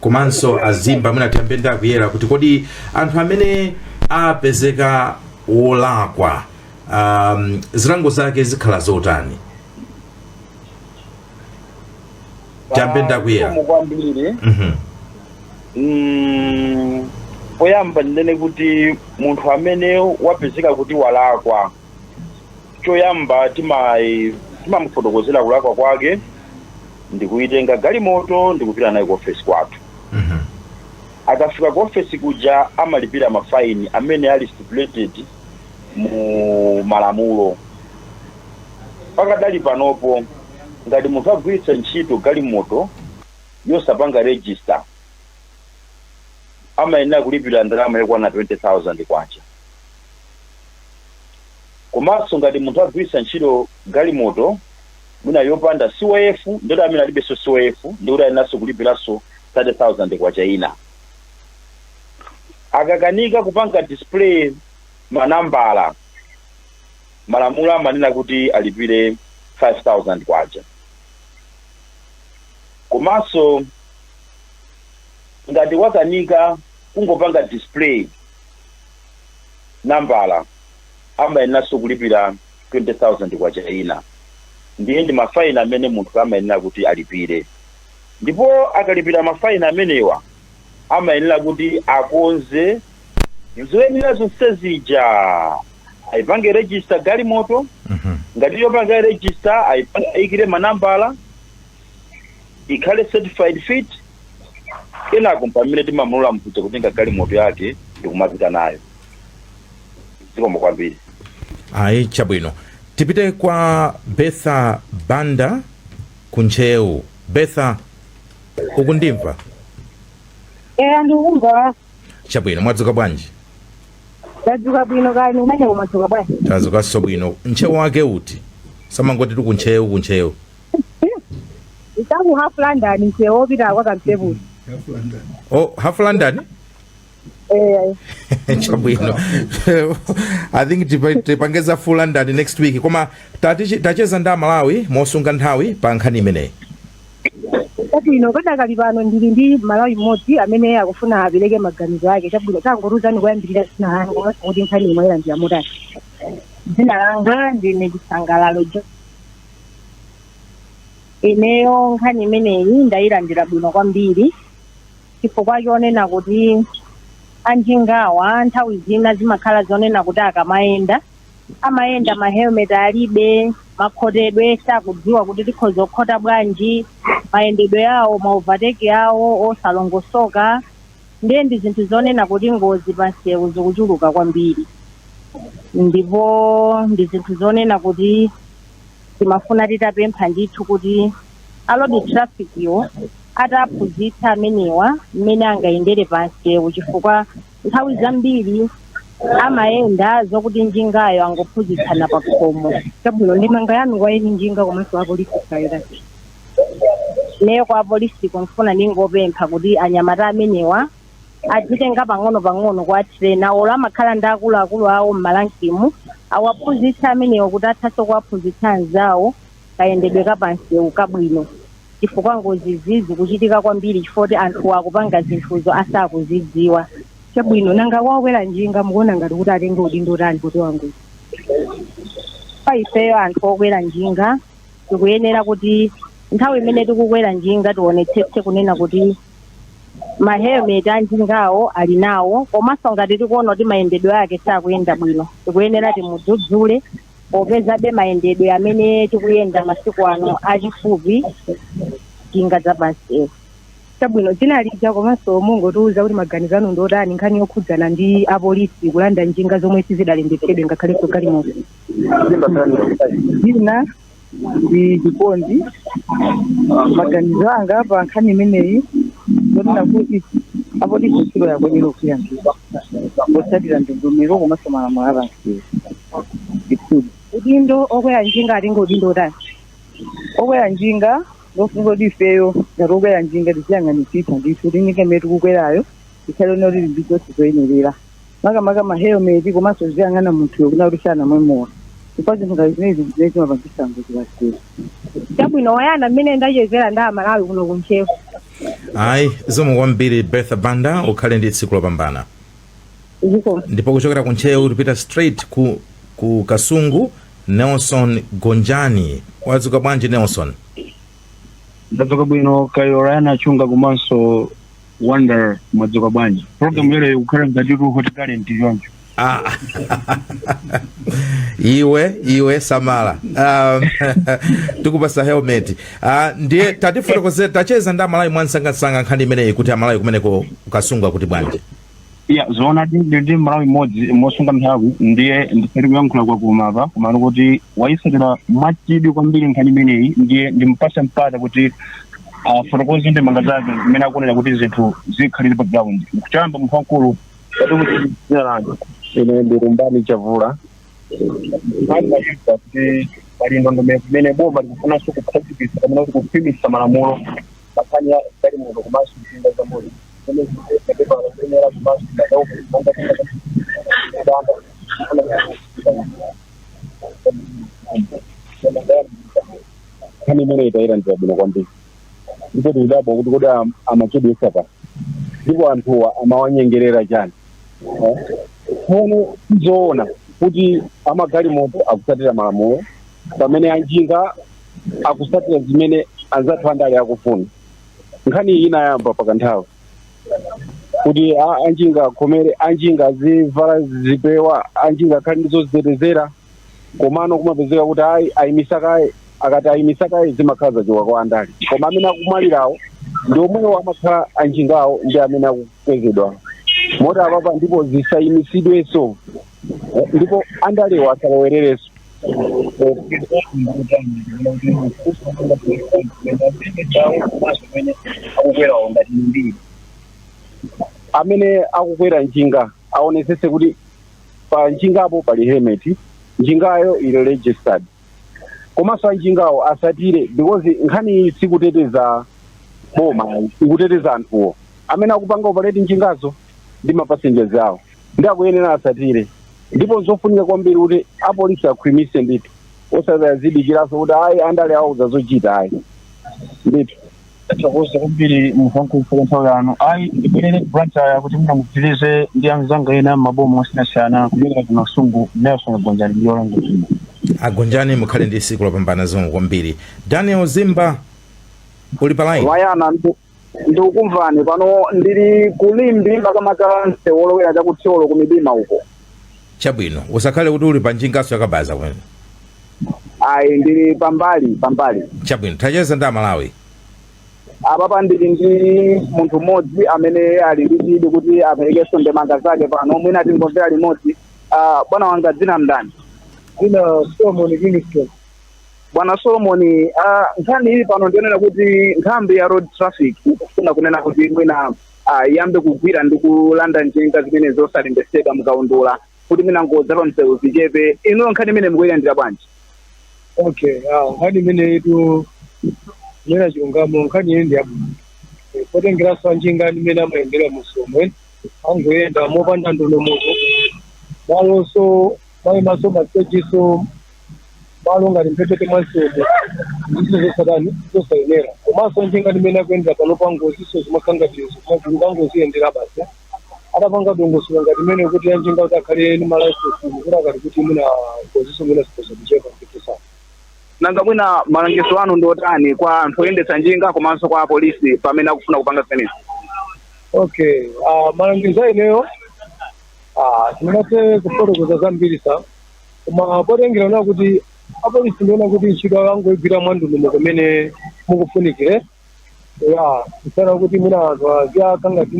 komanso a Zimba mwina tiyambe ndi a Kuyera kuti kodi anthu amene apezeka wolakwa um, zilango zake zikhala zotani Tiyambe ndi a Kuyera. Zikomo kwambiri Mhm. Mm, poyamba ndinene kuti munthu amene wapezeka kuti walakwa choyamba timayi- timamufotokozera kulakwa kwake ndikuyitenga galimoto ndikupita nayo ku ofesi kwathu Mhm. akafika ku ofesi kuja amalipira mafaini amene ali stipulated mu malamulo pakadali panopo ngati munthu agwiritsa ntchito galimoto yosapanga register amayenera kulipira ndalama yokwana 20000 kwacha komanso ngati munthu agwiritsa ntchito galimoto mwina yopanda cof ndikuti amene alibenso cof ndikuti ayeneranso kulipiranso 30000 kwacha ina akakanika kupanga display manambala. Malamulo amanena kuti alipire K5000. Komanso ngati wakanika kungopanga display nambala amayeneranso kulipira K20,000 ina. Ndiye ndi mafaini amene munthu amayenera kuti alipire. Ndipo akalipira mafaini amenewa amayenera kuti akonze zoyenera zonse zija ayipange register galimoto Mhm. ngati yopanga register ayipa- ayikire manambala ikhale certified fit kenako mpamene timamulola nkudza kutenga galimoto yake ndikumapita nayo zikomo kwambiri ayi chabwino tipite kwa bertha banda ku ntcheu bertha ukundimva eya ndikumva chabwino mwadzuka bwanji ndadzuka bwino kaya kumeneko mwadzuka bwanji tadzukanso bwino ntcheu wake uti samangotitu ku ntcheu ku ntcheu kuno ku half london nsewu opita kwa kampepuza oh half london Eh, chabwino i think tipa- tipange za full london next week koma tatichi- tacheza ndi amalawi mosunga nthawi pa nkhani imeneyi chabwino padakali pano ndili ndi malawi mmodzi amene akufuna apereke maganizo ake chabwino tangotiuzani kuyambirira dzina lanu komanso kuti nkhaniyi mwailandira motani dzina langa ndine chisangalalo jo ineyo nkhani imeneyi ndayilandira bwino kwambiri chifukwa chonena kuti anjingawa nthawi zina zimakhala zonena kuti akamayenda amayenda mahelmet alibe makhotedwe sakudziwa kuti tikhoza kukhota bwanji mayendedwe awo ma overtake awo osalongosoka ndiye ndi zinthu zonena kuti ngozi pansewu zikuchuluka kwambiri ndipo ndi zinthu zonena kuti timafuna titapempha ndithu kuti a road traffic-wo atawaphunzitsa amenewa mmene angayendere pansewu chifukwa nthawi zambiri amayenda zokuti njingayo angophunzitsana pa khomo chabwino ndemanga yanu kwa eni njinga komanso apolisi ndi yotani ineyo kwa apolisi ndikufuna ndingopempha kuti anyamata amenewa adzitenga pang'onopang'ono kuwatrainer or amakhala ndi akuluakulu awo m'malankimu awaphunzitsa amenewo kuti athanso kuwaphunzitsa anzawo kayendedwe kapansewu kabwino chifukwa ngozi zizi kuchitika kwambiri chifukwa kuti anthu akupanga zinthuzo asakuzidziwa chabwino nanga okwera njinga mukuona ngati kuti atenge udindo utani kuti wangozi pa ifeyo anthu okwera njinga tikuyenera kuti nthawi imene tikukwera njinga tionetsetse kunena kuti ma helmet anjingawo ali nawo komanso ngati tikuona kuti mayendedwe ake sakuyenda bwino tikuyenera timudzudzule popezabe mayendedwe amene tikuyenda masiku ano achifupi njinga za pansewu chabwino dzina lija komanso mungotiuza kuti maganizo anu ndi otani nkhani yokhudzana ndi apolisi kulanda njinga zomwe sizidalembetsedwe ngakhalenso galimoto dzina ndi Chikondi maganizo anga pa nkhani imeneyi ndonena kuti apolisi ntchito yawo ndi yogwira ntchito potsatira ndondomeko komanso malamulo a pansewu ndithudi udindo okwera njinga atenga udindo utani okwera njinga ndofunika kuti ifeyo ngati okwera njinga tiziyang'anitsitsa ndithu tinike mmene tikukwerayo tikhale kuti tili ndi zonse zoyenerera makamaka ma helmet komanso ziyang'ana munthuyo kunena kuti sanamwe mowa chifukwa zinthu ngati zimenezi ndi zimene zimapangisa ngozi pansewu chabwino Wonder ndi mmene ndachezera ndi amalawi kuno kuntcheu ayi zikomo kwambiri bertha banda ukhale ndi tsiku lopambana zikomo ndipo kuchokera ku ntcheu tipita straight ku, ku kasungu nelson gonjani wadzuka bwanji nelson ndadzuka bwino kaya Lana chunga komanso wonder mwadzuka bwanji program ya lero ikukhala ngati ku hot talent choncho Ah. iwe iwe samala um, tikupatsa helmet uh, ndiye tatifotokozere wacheza ndi amalawi mwansangansanga nkhani imeneyi kuti amalawi kumeneko kasungu akuti bwanji ya zoonadi ndili ndi mmalawi mmodzi mosunga nthawi ndiye ndinali kuyankhula kwa koma apa komano kuti wayitsatira mwachidwi kwambiri nkhani imeneyi ndiye ndimpatsa mpata kuti afotokoze ndemanga zake mmene akuonera kuti zinthu zikhalire pa ground kuchamba munthu wamkulu kuti kuti dzina langa ine ndi rumbani chavula kuti pali ndondomeko imene boma likufunanso kukhazikitsa kapena kuti kukhwimitsa malamulo pankhani ya galimoto komanso njinga za moto zimene zikupepa kuyenera komanso madauko monga kudanda nkhani imene tayilandira bwino kwambiri ndipo tikudabwa kuti kodi am- amachedwetsa pa ndipo anthuwa amawanyengerera chani Eh? tsono tikuona kuti amagalimoto akutsatira malamulo pamene anjinga akutsatira zimene anzathu andale akufuna nkhani iyi inayamba pakanthawi kuti a- anjinga akhomere anjinga azivala zipewa anjinga akhale ndi zozitetezera komano kumapezeka kuti ayi ayimisa kaye akati ayimisa kaye zimakhala zachoka kwa andale koma amene akumwalirawo ndi omwewo amakhala anjingawo ndi amene akukwezedwa moti apapa ndipo zisayimisidwenso Eh, ndipo andalewo asalowererenso akukwerawo ngati amene akukwera njinga aonesese kuti pa njingapo pali helmet njingayo ili registered komanso anjingawo asatire because nkhani iyi sikuteteza boma ikuteteza anthuwo amene akupanga operate njingazo ndi mapasenjazi awo ndi akuyenera asatire ndipo nzofunika kwambiri kuti apolisi akhwimise ndithu osati azidikiranso kuti ayi andale awauza zochita ayi ndithu tathokoza kwambiri kamba ka nthawi yanu ayi ndibwerere ku Blantyre kuti mwina mupitirize ndi anzanga ena m'maboma osiyanasiyana kuchokera ku kasungu nelson gonjani ndiyolonga agonjani mukhale ndi siku lopambana zikomo kwambiri daniel zimba uli pa line brian ndi- ndikukumvani pano ndili kulimbi makamaka msewu olowera chakuthyolo ku midima uko chabwino usakhale kuti uli pa njinganso yakabaza kumeneko ayi ndili pambali pambali chabwino tacheza ndi amalawi apapa ndili ndi munthu mmodzi amene ali ndi chidwi kuti aperekenso ndemanga zake pano mwina tingomvera limodzi Ah, bwana wanga dzina ndani dzina solomon kingston bwana solomoni ah, nkhani ili pano ndi yonena kuti nthambi ya road traffic ikufuna kunena kuti mwina ah, iyambe kugwira ndi kulanda njinga zimene zosalembetsedwa mukaundula kuti mwina ngozi za pamsewu zichepe inuyo nkhani imeneyi mukuyilandira bwanji okay ah, nkhani imeneyitu kunena chilungamo nkhani iyi ndi yabwino Eh, potengeranso anjinga mmene amayendera mumsewumu amangoyenda mopanda ndondomeko malonso amayimaso masitejiso malo ngati mphepete mwa msewu ndizo zosatani zosayenera komanso anjinga mmene akuyendera panopa ngoziso zimakhala ngati izo kumagulu ka ngozi yendera basi atapanga dongosolo ngati imeneyi kuti anjinga kuti akhale ni malaisensi kuti akati kuti mwina ngoziso mwina zikhoza kuchepa mpetisana nanga mwina malangizo anu ndi otani kwa anthu oyendetsa njinga komanso kwa apolisi pamene akufuna kupanga zimenezi okay uh, malangizo a ineyo uh, tingathe kufotokoza zambiri sa koma potengera na kuti apolisi ndiona kuti ntchito yawo angoigwira mwandondomeko mmene zikufunikira kusiyana kuti mwina anthu aziyankha ngati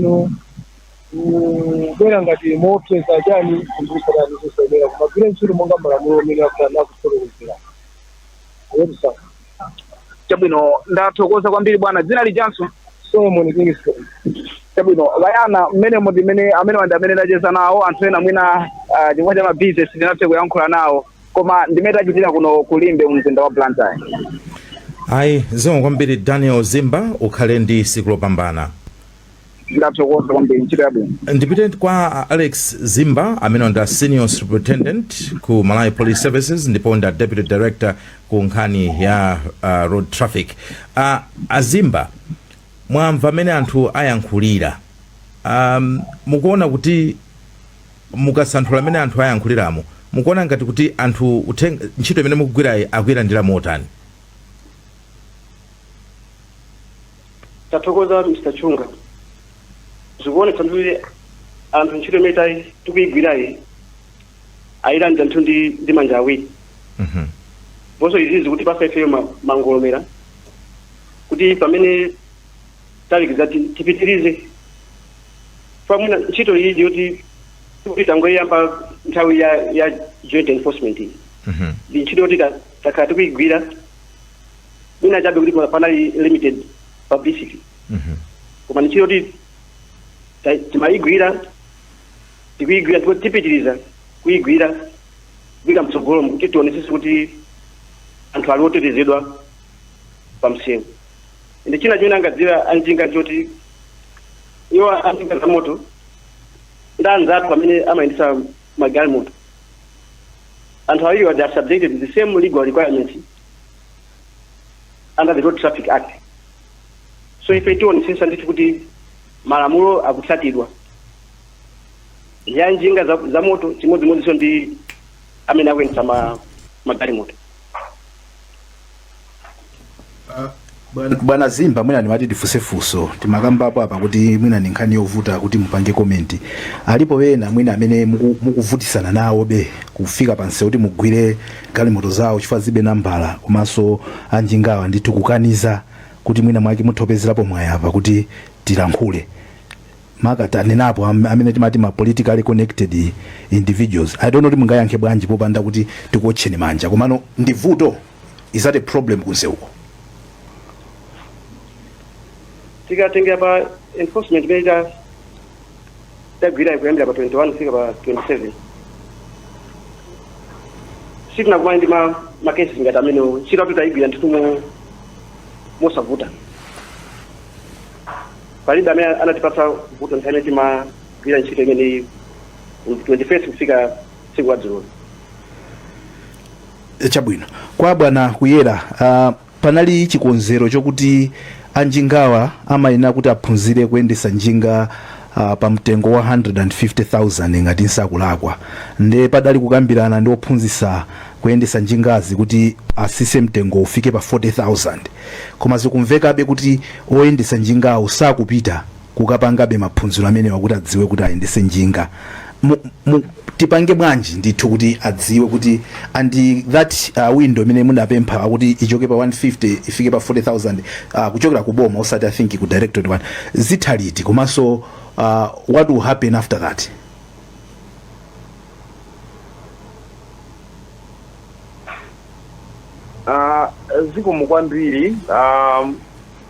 kubwera ngati moopseza chani kusayenera kumagwira ntchito monga malamulo amene akufotokozera yetisaa chabwino ndathokoza kwambiri bwana dzina lijanso Solomon Kingston. chabwino Brian ndi mmene muti mmene amenewa ndi amene ndacheza nawo anthu ena mwina ah, chifukwa cha mabizinesi sindinathe kuyankhula nawo koma ndimene tachitira kuno ku Limbe mu mzinda wa blantyre ayi zikomo kwambiri daniel zimba ukhale ndi siku lopambana ndathokoza kwambiri ntchito yabwino ndipite kwa uh, alex zimba amene ndi a senior superintendent ku malawi police services ndipo ndi a deputy director ku nkhani ya uh, road traffic uh, a zimba mwamva mmene anthu ayankhulira um, mukuona kuti mukasanthula mmene anthu ayankhuliramo mukuona ngati kuti anthu ntchito imene mukugwirayi akuyilandira motani Tathokoza Mr Chunga. Zikuonetsa ndithu kuti anthu ntchito imene ta- tikuyigwirayi ayilandira ndithu ndi ndi manja awiri. Mhm. Ndiponso izi zikutipasa ifeyo ma- mangolomera kuti pamene talekeza ti- tipitirize pamene ntchito iyi ndiyoti kuti tangoyiyamba nthawi ya ya joint enforcement iyi. Mhm. ndi ntchito yoti ta- takhala tikuyigwira mwina chabe kuti pa- panali limited publicity Mhm. koma ni ntchito yoti ta- timayigwira tikuyigwira ndipo tipitiriza kuyigwira mpaka mtsogolo kuti tionesese kuti anthu ali otetezedwa pa msewu ende chinanso chimene angadziwa anjinga choti iwo anjinga za moto ndi anzathu amene amayendesa magalimoto anthu awiriwa they are subjected to the same legal requirements under the road traffic act so ife tionetsetsa ndithu kuti malamulo akutsatidwa a njinga za, za moto chimodzimodzinso ndi amene akuyendetsa ma magalimoto Uh, bwana zimba mwina ndimati tifunse funso timakambapo apa kuti mwina ndi nkhani yovuta kuti mupange komenti alipo ena mwina amene muku- mukuvutisana nawobe kufika pano kuti mugwire galimoto zawo chifukwa zilibe nambala komanso anjingawa ndithu kukaniza kuti mwina mwake mutha kupezerapo mwayi apa kuti tilankhule maka tanenapo am- amene timati ma politically connected individuals i don't know kuti mungayankhe bwanji popanda kuti tikuotcheni manja komano ndi vuto is that a problem kunseuko tikatengera pa enforcement imene ta- tagwirayi kuyambira pa 21 kufika pa 27 sitinakumana ndi ma- ma cases ngati amenewo ntchito yathu tayigwira ndithu mo- mosavuta palibe amene anatipatsa vuto nthawi imene timagwira ntchito imeneyi 21st kufika tsiku la dzulo Eh, chabwino kwa bwana kuyera ah, panali chikonzero chokuti anjingawa amayenera kuti aphunzire kuyendesa njinga ah, pa mtengo wa 150000 ngati nsakulakwa nde padali kukambirana ndi ophunzisa kuyendesa njingazi kuti asise mtengo ufike pa 40000 koma zikumvekabe kuti oyendesa njingawo sakupita kukapangabe maphunziro amenewa akuti adziwe kuti ayendese njinga mu, mu, tipange bwanji ndithu kuti adziwe kuti and that uh, window imene munapempha kuti ichoke pa 150 ifike pa 40000 uh, kuchokera ku boma osati i think ku directorate one zitha liti komanso uh, what will happen after that Ah, zikomo kwambiri um,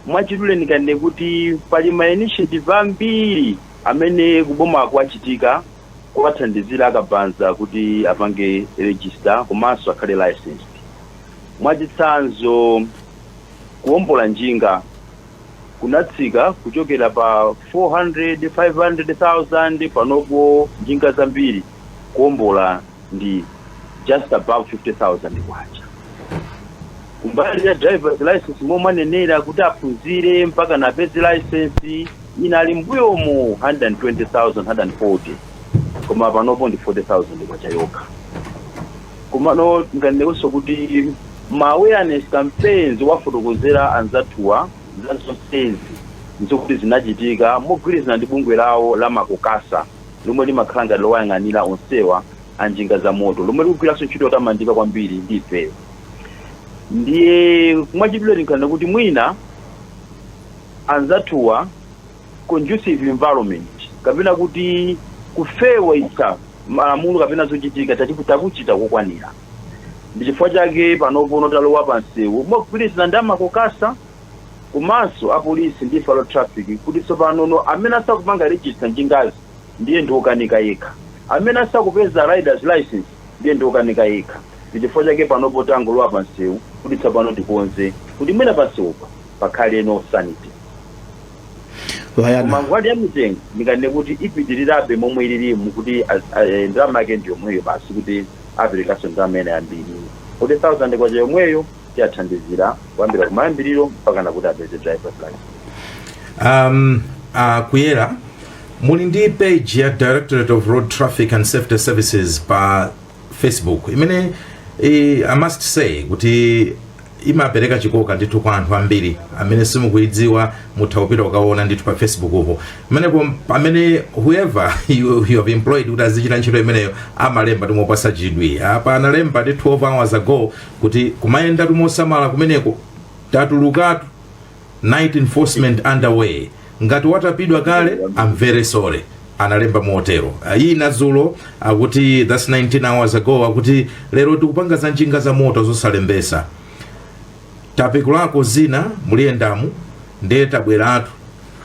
Mwachidule ndinganene kuti pali ma initiative ambiri amene kuboma kwachitika kuwathandizira akabaza kuti apange register komanso akhale licensed. Mwachitsanzo kuwombola njinga kunatsika kuchokera pa 400, 500,000 panopo njinga zambiri. kuombola ndi just above K50,000. Kumbali ya drivers licence momwe mwanenera kuti aphunzire mpakana apeze licence inali mmbuyomu K120,000, K140,000 koma panopo ndi K40,000 yokha. Komano ndinganenekonso kuti ma awareness campaigns owafotokozera anzathuwa za zonsezi n'zokuti zinachitika mogwirizana ndi bungwe lawo la Macokasa. lomwe limakhala ngati lowayang'anira onsewa a njinga zamoto, lomwe likugwiranso ntchito yotamandika kwambiri ndi ifeyo. Ndiye mwachidule tinganene kuti mwina anzathuwa conducive environment kapena kuti kufewetsa malamulo kapena zochitika tati- takuchita kokwanira. Ndi chifukwa chake panopono talowa pa msewu mogwirizana ndi a Macokasa komanso apolisi ndi ife a road traffic kuti tsopano no amene asakupanga register njingazi ndiye ndi wokanika yekha, amene asakupeza rider's licence ndiye ndi wokanika yekha, ndi chifukwa chake panopo tangolowa pa msewu kuti tsopano tikonze kuti mwina pa msewupa pakhaleno sanity. Koma nkhani ya mitengo ndinganene kuti ipitirirabe momwe ilirimu kuti az- a- eh, ndalama yake ndi yomweyo basi kuti aperekanso ndalama ina yambiri 40,000 kwacha yomweyo tiwathandizira kuyambira kumayambiriro mpakana kuti apeze driver's license Um, uh, kuyera muli ndi page ya directorate of road traffic and safety services pa facebook imene eh, i must say kuti imapereka chikoka ndithu kwa anthu ambiri amene simukuidziwa mutha kupita kukaona ndithu pa facebookpo amene whoever you, you have employed kuti azichita ntchito imeneyo amalemba timopasa chidwi apa analemba ndi 12 hours ago kuti kumayendatu mosamala kumeneko tatulukatu night enforcement underway ngati watapidwa kale I'm very sorry analemba motero Ah, iyi nadzulo akuti that's 19 hours ago akuti lero tikupanga za njinga za moto zosalembesa tapekulako zina muliyendamu ndiye tabweratu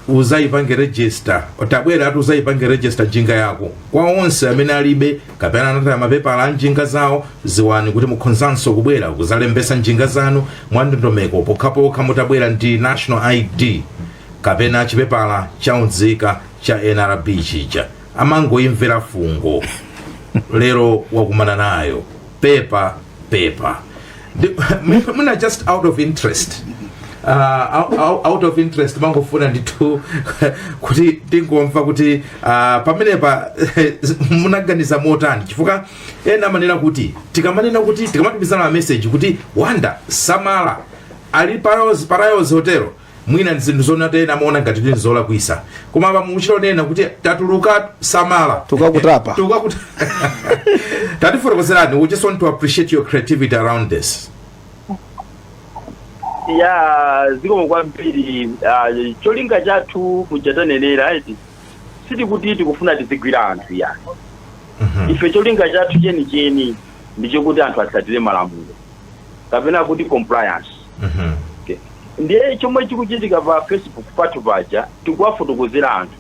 uzaipange register tabweratu uzaipange register njinga yako kwa onse amene alibe kapena anataya mapepala a njinga zawo ziwani kuti mukhonzanso kubwera kuzalembesa njinga zanu mwa ndondomeko pokhapokha mutabwera ndi national id kapena chipepala cha unzika cha nrb chija amangoimvera fungo lero wakumana nayo pepa pepa Ndi- mwina- mwina just out of interest uh, out, out- out of interest mangofuna ndithu kuti ndingomva kuti uh, pamenepa munaganiza motani chifukwa ena amanena kuti tikamanena kuti tikamatumizana mameseji kuti wanda samala ali parayozi parayozi hotelo mwina nzinthu zoona eti ena amaona ngati kuti nzolakwisa koma apa mukuchita kunena kuti tatuluka samala Tukakutapa. tukakuta tatifotokozerani we just want to appreciate your creativity around this ya zikomo kwambiri ah, cholinga chathu muja tanenera eti sitikuti tikufuna tizigwira anthu yayi ife cholinga chathu chenicheni ndichokuti anthu atsatire malamulo kapena kuti compliance Mhm. ndiye chomwe chikuchitika pa facebook pathu paja tikuwafotokozera anthu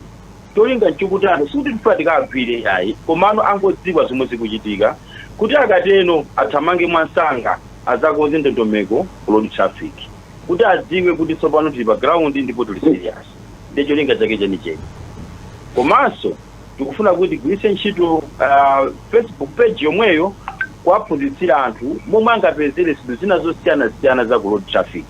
cholinga nchokuti anthu sikuti tifuna tikawagwire yayi komano angodziwa zomwe zikuchitika kuti akatero athamange mwansanga azakonze ndondomeko ku road traffic kuti adziwe kuti tsopano tili pa ground ndipo tili serious ndiye cholinga chake chenicheni komanso tikufuna kuti tigwiritse ntchito ah, facebook page yomweyo kuwaphunzitsira anthu momwe angapezere zinthu zina zosiyanasiyana za ku road traffic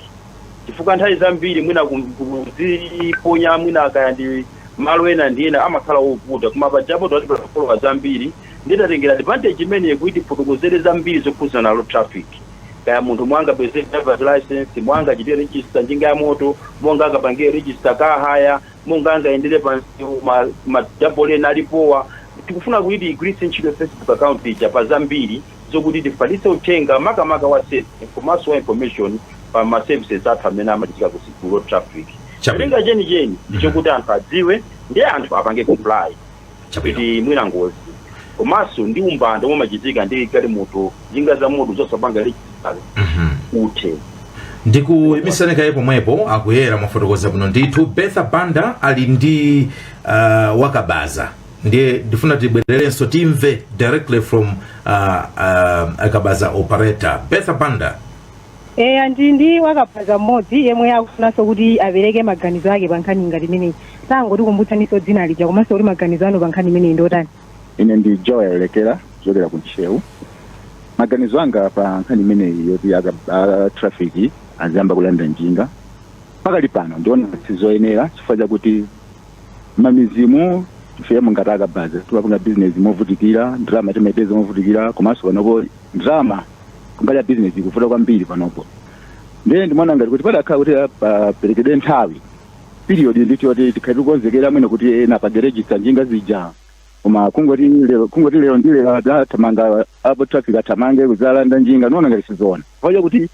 chifukwa nthawi zambiri mwina ku- kuziponya mwina kaya ndi malo ena ndi ena amakhala ovuta koma pajapo atipanga follow ambiri nditatengera advantage imeneyi kuti tifotokozere zambiri zokhudzana na road traffic kaya munthu mmene angapezere driver's license mmene angachitire register njinga ya moto mmene angapangire register ka haya mmene angayendere pa msewu ma, ma double ena alipowa tikufuna kuti tigwiritse ntchito facebook account ija pa zambiri zokuti tifalitse uthenga makamaka wa safety komanso wa information pa ma services athu amene amachitika ku road traffic Chabwino. cholinga chenicheni ndichokuti anthu adziwe ndiye anthu apange comply Chabwino. kuti mwina ngozi komanso ndi umbanda omwe umachitika ndi galimoto njinga za moto zosapanga register Mhm. uthe ndikuimisani kaye pomwepo akuyera mwafotokoza bwino ndithu betha banda ali ndi uh, wakabaza ndiye ndifuna tibwererenso timve directly from uh, uh, akabaza operator betha banda eya ndili ndi wakabaza mmodzi yemwe akufunanso kuti apereke maganizo ake pa nkhani ngati imeneyi tangotikumbutsaninso dzina lija komanso kuti maganizo anu pa nkhani imeneyi ndiotani ine ndi joel lekera kuchokera ku ntcheu maganizo anga pa nkhani imeneyi yoti aka- a traffic aziyamba kulanda njinga pakali pano ndiona kuti sizoyenera chifukwa chakuti mmamidzimu ifeyo ngati akabaza timapanga bizinesi movutikira ndalama timaipeza movutikira komanso panopo ndalama kumbali ya business ikuvuta kwambiri panopo ndiye ndimaona ngati kuti padakhala kuti paperekedwe nthawi period nditi yoti tikhale tikonzekera mwina kuti ena apange register njinga zija koma kungoti lero kungoti lero ndi lero athamanga a traffic athamange kuzalanda njinga ndiona ngati sizoona paja kuti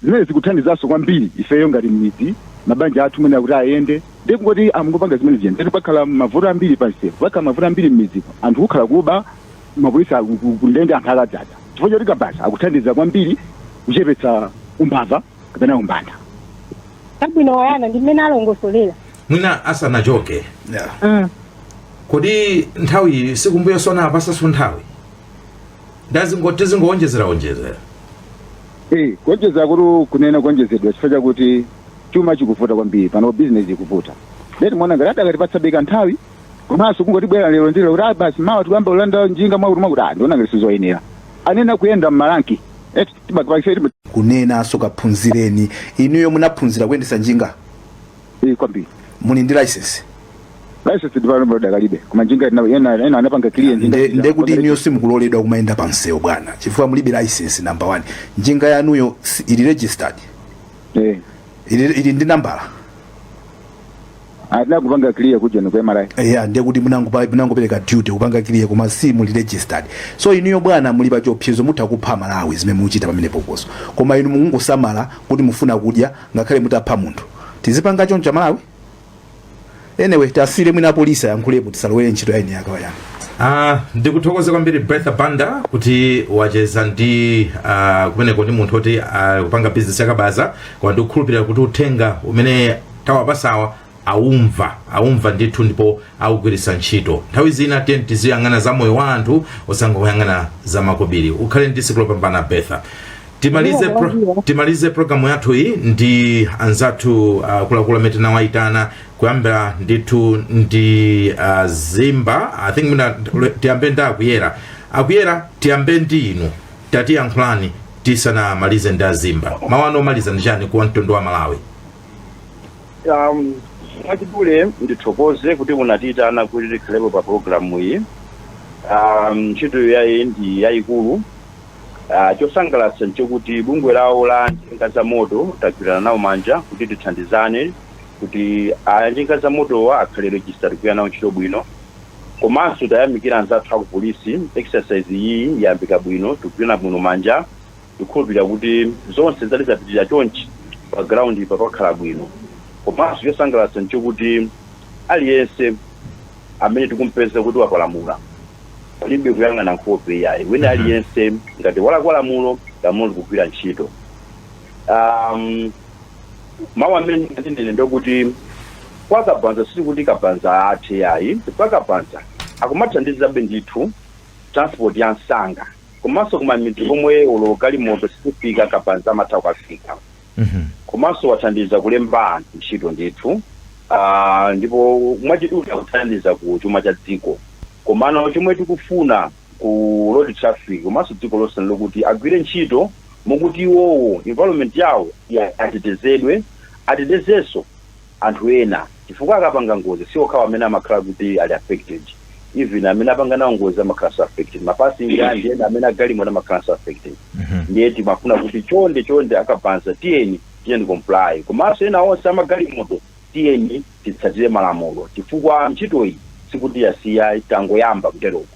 Zimenezi zikuthandizanso kwambiri ifeyo ngati mmidzi, mabanja athu mwina kuti ayende, ndiye kungoti angopanga zimenezi and then pakhala mavuto ambiri pa msewu, pakhala mavuto ambiri mmidzimu, anthu kukhala kuba, mapolisi ali ku- ku ndende anthu akadzadza, chifukwa choti kabaza akuthandiza kwambiri kuchepetsa umbava kapena umbanda. Chabwino malingana ndi mmene alongosolera. mwina asanachoke Yeah. Mm. kodi nthawi si kumbuyoku anapatsanso nthawi ndazingo tizingowonjezera onjezera Eh, kuonjeza kuti kunena kuonjezedwa chifukwa chakuti chuma chikuvuta kwambiri pano bizinesi ikuvuta ndiye timaona ngati adakatipatsabe ka nthawi komanso kungoti bwera lero ndi lero kuti ah, basi mawa tikuyamba kulanda njinga mwakuti mwakuti ah ndiona ngati sizoyenera anena kuyenda mmalanki eti timakapakisa kunenanso kaphunzireni inuyo munaphunzira kuyendetsa njinga iyi kwambiri muli ndi license license ndipano bado dakalibe koma njinga ina- ina ina anapanga clear njinga Nde- ija. ndekuti inuyo simukuloledwa kumayenda pa msewu bwana chifukwa mulibe license number one njinga yanuyo si- ili registered eh ili, ili ndi nambala atina kupanga clear kuja ni kwa MRA eya ndekuti munangopa- munangopereka duty kupanga clear koma si muli registered so inuyo bwana muli pa chiopsezo mutha kupha amalawi zimene muchita pamene pokoso koma inu mungosamala kuti mufuna kudya ngakhale mutapha munthu tizipanga choncho amalawi anyway tisiyire mwina apolisi ayankhulepo tisalowere ntchito ya eni yake wayani Ah, ndikuthokoze kwambiri bertha banda kuti wacheza ndi ah, kumeneko ndi munthu oti akupanga bizinesi yakabaza koma ndikukhulupirira kuti uthenga umene tawapasawa aumva aumva ndithu ndipo augwiritsa ntchito nthawi zina tiyeni tiziyang'ana za moyo wa anthu osangoyang'ana za makobiri ukhale ndi tsiku lopambana betha timalize pro, timalize programu yathu iyi ndi anzathu uh, kulakula amene tinawayitana kuyambira ndithu ndi uh, zimba i think mwina tiyambe ndi akuyera akuyera tiyambe ndi inu tatiyankhulani tisanamalize ndi azimba mawu anu omaliza ndi chani kwa mtundu wa malawi Um, mwachidule ndithokoze kuti munatiyitana kuti tikhalepo pa programu iyi um, ntchitoyi ndi yayikulu uh, chosangalatsa nchokuti bungwe lawo la njinga za moto tagwirana nawo manja kuti tithandizane kuti a njinga za motowa akhale registered tikugwira nawo ntchito bwino komanso tayamikira anzathu akupolisi exercise iyi yayambika bwino tikugwirana bwino manja tikukhulupirira kuti zonse zidzati zapitirira chonchi pa ground pa pakakhala bwino komanso chosangalatsa nchokuti aliyense amene tikumpeza kuti wapalamula palibe kuyang'ana nkhope iyayi wina aliyense ngati walakwa lamulo lamulo likugwira ntchito um, mawu amene ndinene ndokuti kwa kabaza sikuti kabaza athe yayi chifukwa kabaza akumathandizabe ndithu transport ya msanga komanso kumamidzi komwe olo galimoto sikufika kabaza amatha kukafika Mhm. komanso wathandiza kulemba anthu ntchito ndithu Ah, ndipo mwachidule akuthandiza ku chuma cha dziko komano chomwe tikufuna ku road traffic komanso dziko lonse ndi lokuti agwire ntchito mokuti iwowo environment yawo ya- atetezedwe atetezenso anthu ena chifukwa akapanga ngozi si okhawo amene amakhala kuti ali affected even amene apanga nawo ngozi amakhalanso affected ma passenger ndi ena amene agalimoto amakhalanso affected ndiye timafuna kuti chonde chonde akabaza tiyeni tiyende comply komanso ena onse amagalimoto tiyeni titsatire malamulo chifukwa ntchitoyi sikuti yasiya tangoyamba kuteroko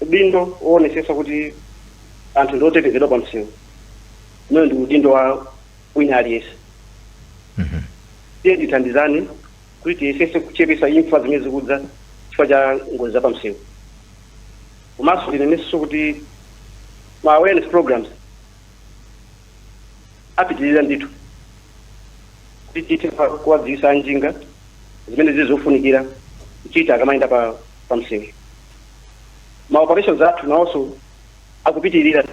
Udindo woonetsetsa kuti anthu ndi otetezedwa pa msewu umenewu ndi udindo wa wina aliyense. Tiyeni tithandizane kuti tiyesetse kuchepetsa imfa zimene zikudza chifukwa cha ngozi za pa msewu. Komanso ndinenenso kuti ma awareness programs apitirira ndithu kuti tithe kuwa- kuwadziwitsa anjinga zimene zili zofunikira kuchita akamayenda pa pa msewu. ma operations athu nawonso akupitirira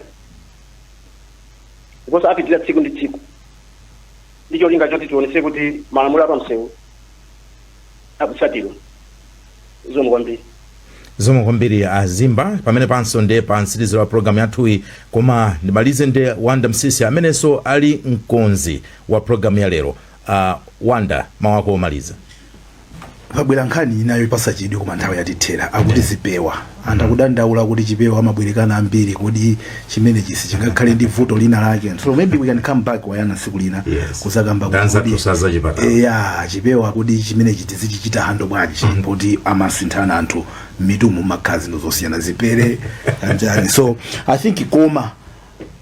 ndiponso apitirira tsiku ndi tsiku ndi cholinga choti tionetse kuti malamulo apamsewu akutsatidwa zikomo kwambiri zikomo kwambiri a Zimba pamenepanso ndi pa mtsiriziro wa programu yathuyi koma ndimalize ndi wanda msisi amenenso ali mkonzi wa programu ya lero uh, wanda mawu ako omaliza pabwera nkhani ina yopatsa chidwi koma nthawi yatithera akuti zipewa anthu akudandaula kuti chipewa amabwerekana ambiri kodi chimenechi sichingakhale ndi vuto lina lake so maybe we can come back wayana tsiku lina Yes. kuzakamba kuti Danza kodi- tusaza chipatala. Eh, ya chipewa kodi chimenechi tizichichita handle bwanji poti amasinthana anthu m'mitumu mmakhala zinthu zosiyana zipere anjani so i think koma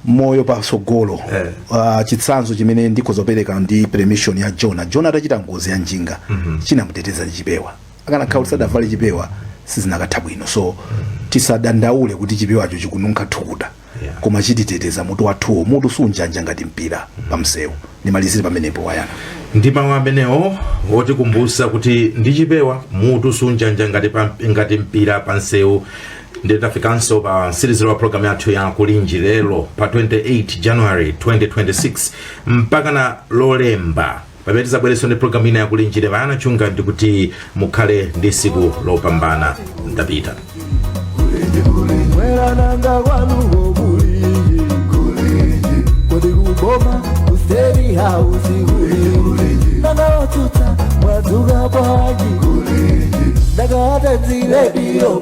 moyo patsogolo eh. Uh, chitsanzo chimene ndikhoza kupereka ndi permission ya Joana. Joana atachita ngozi ya njinga mm -hmm. chinamuteteza ndi chipewa akanakhala kuti sadavale chipewa sizinakatha bwino so mm -hmm. tisadandaule kuti chipewacho chikununkha thukuta yeah. koma chititeteza mutu wathuwo mutu sunjanja ngati mpira mm -hmm. pamsewu ndimalizire pamenepo wayana ndi mawu amenewo otikumbutsa kuti ndi chipewa mutu sunjanja ngati, ngati mpira pamsewu ndiye tafikanso pa mtsiriziro wa programu yathu ya kulinji lero pa 28 january 2026 mpakana lolemba pamene tizabwereso ndi programu ina ya kulinji ine wayana chunga ndikuti mukhale ndi siku lopambana ndapita mwerananga kwanuko kulinji kulinji kodi kuboma kuseri hausi kulinji nanga otsutsa mwadzuka bwanji kulinji ndakawata dziredio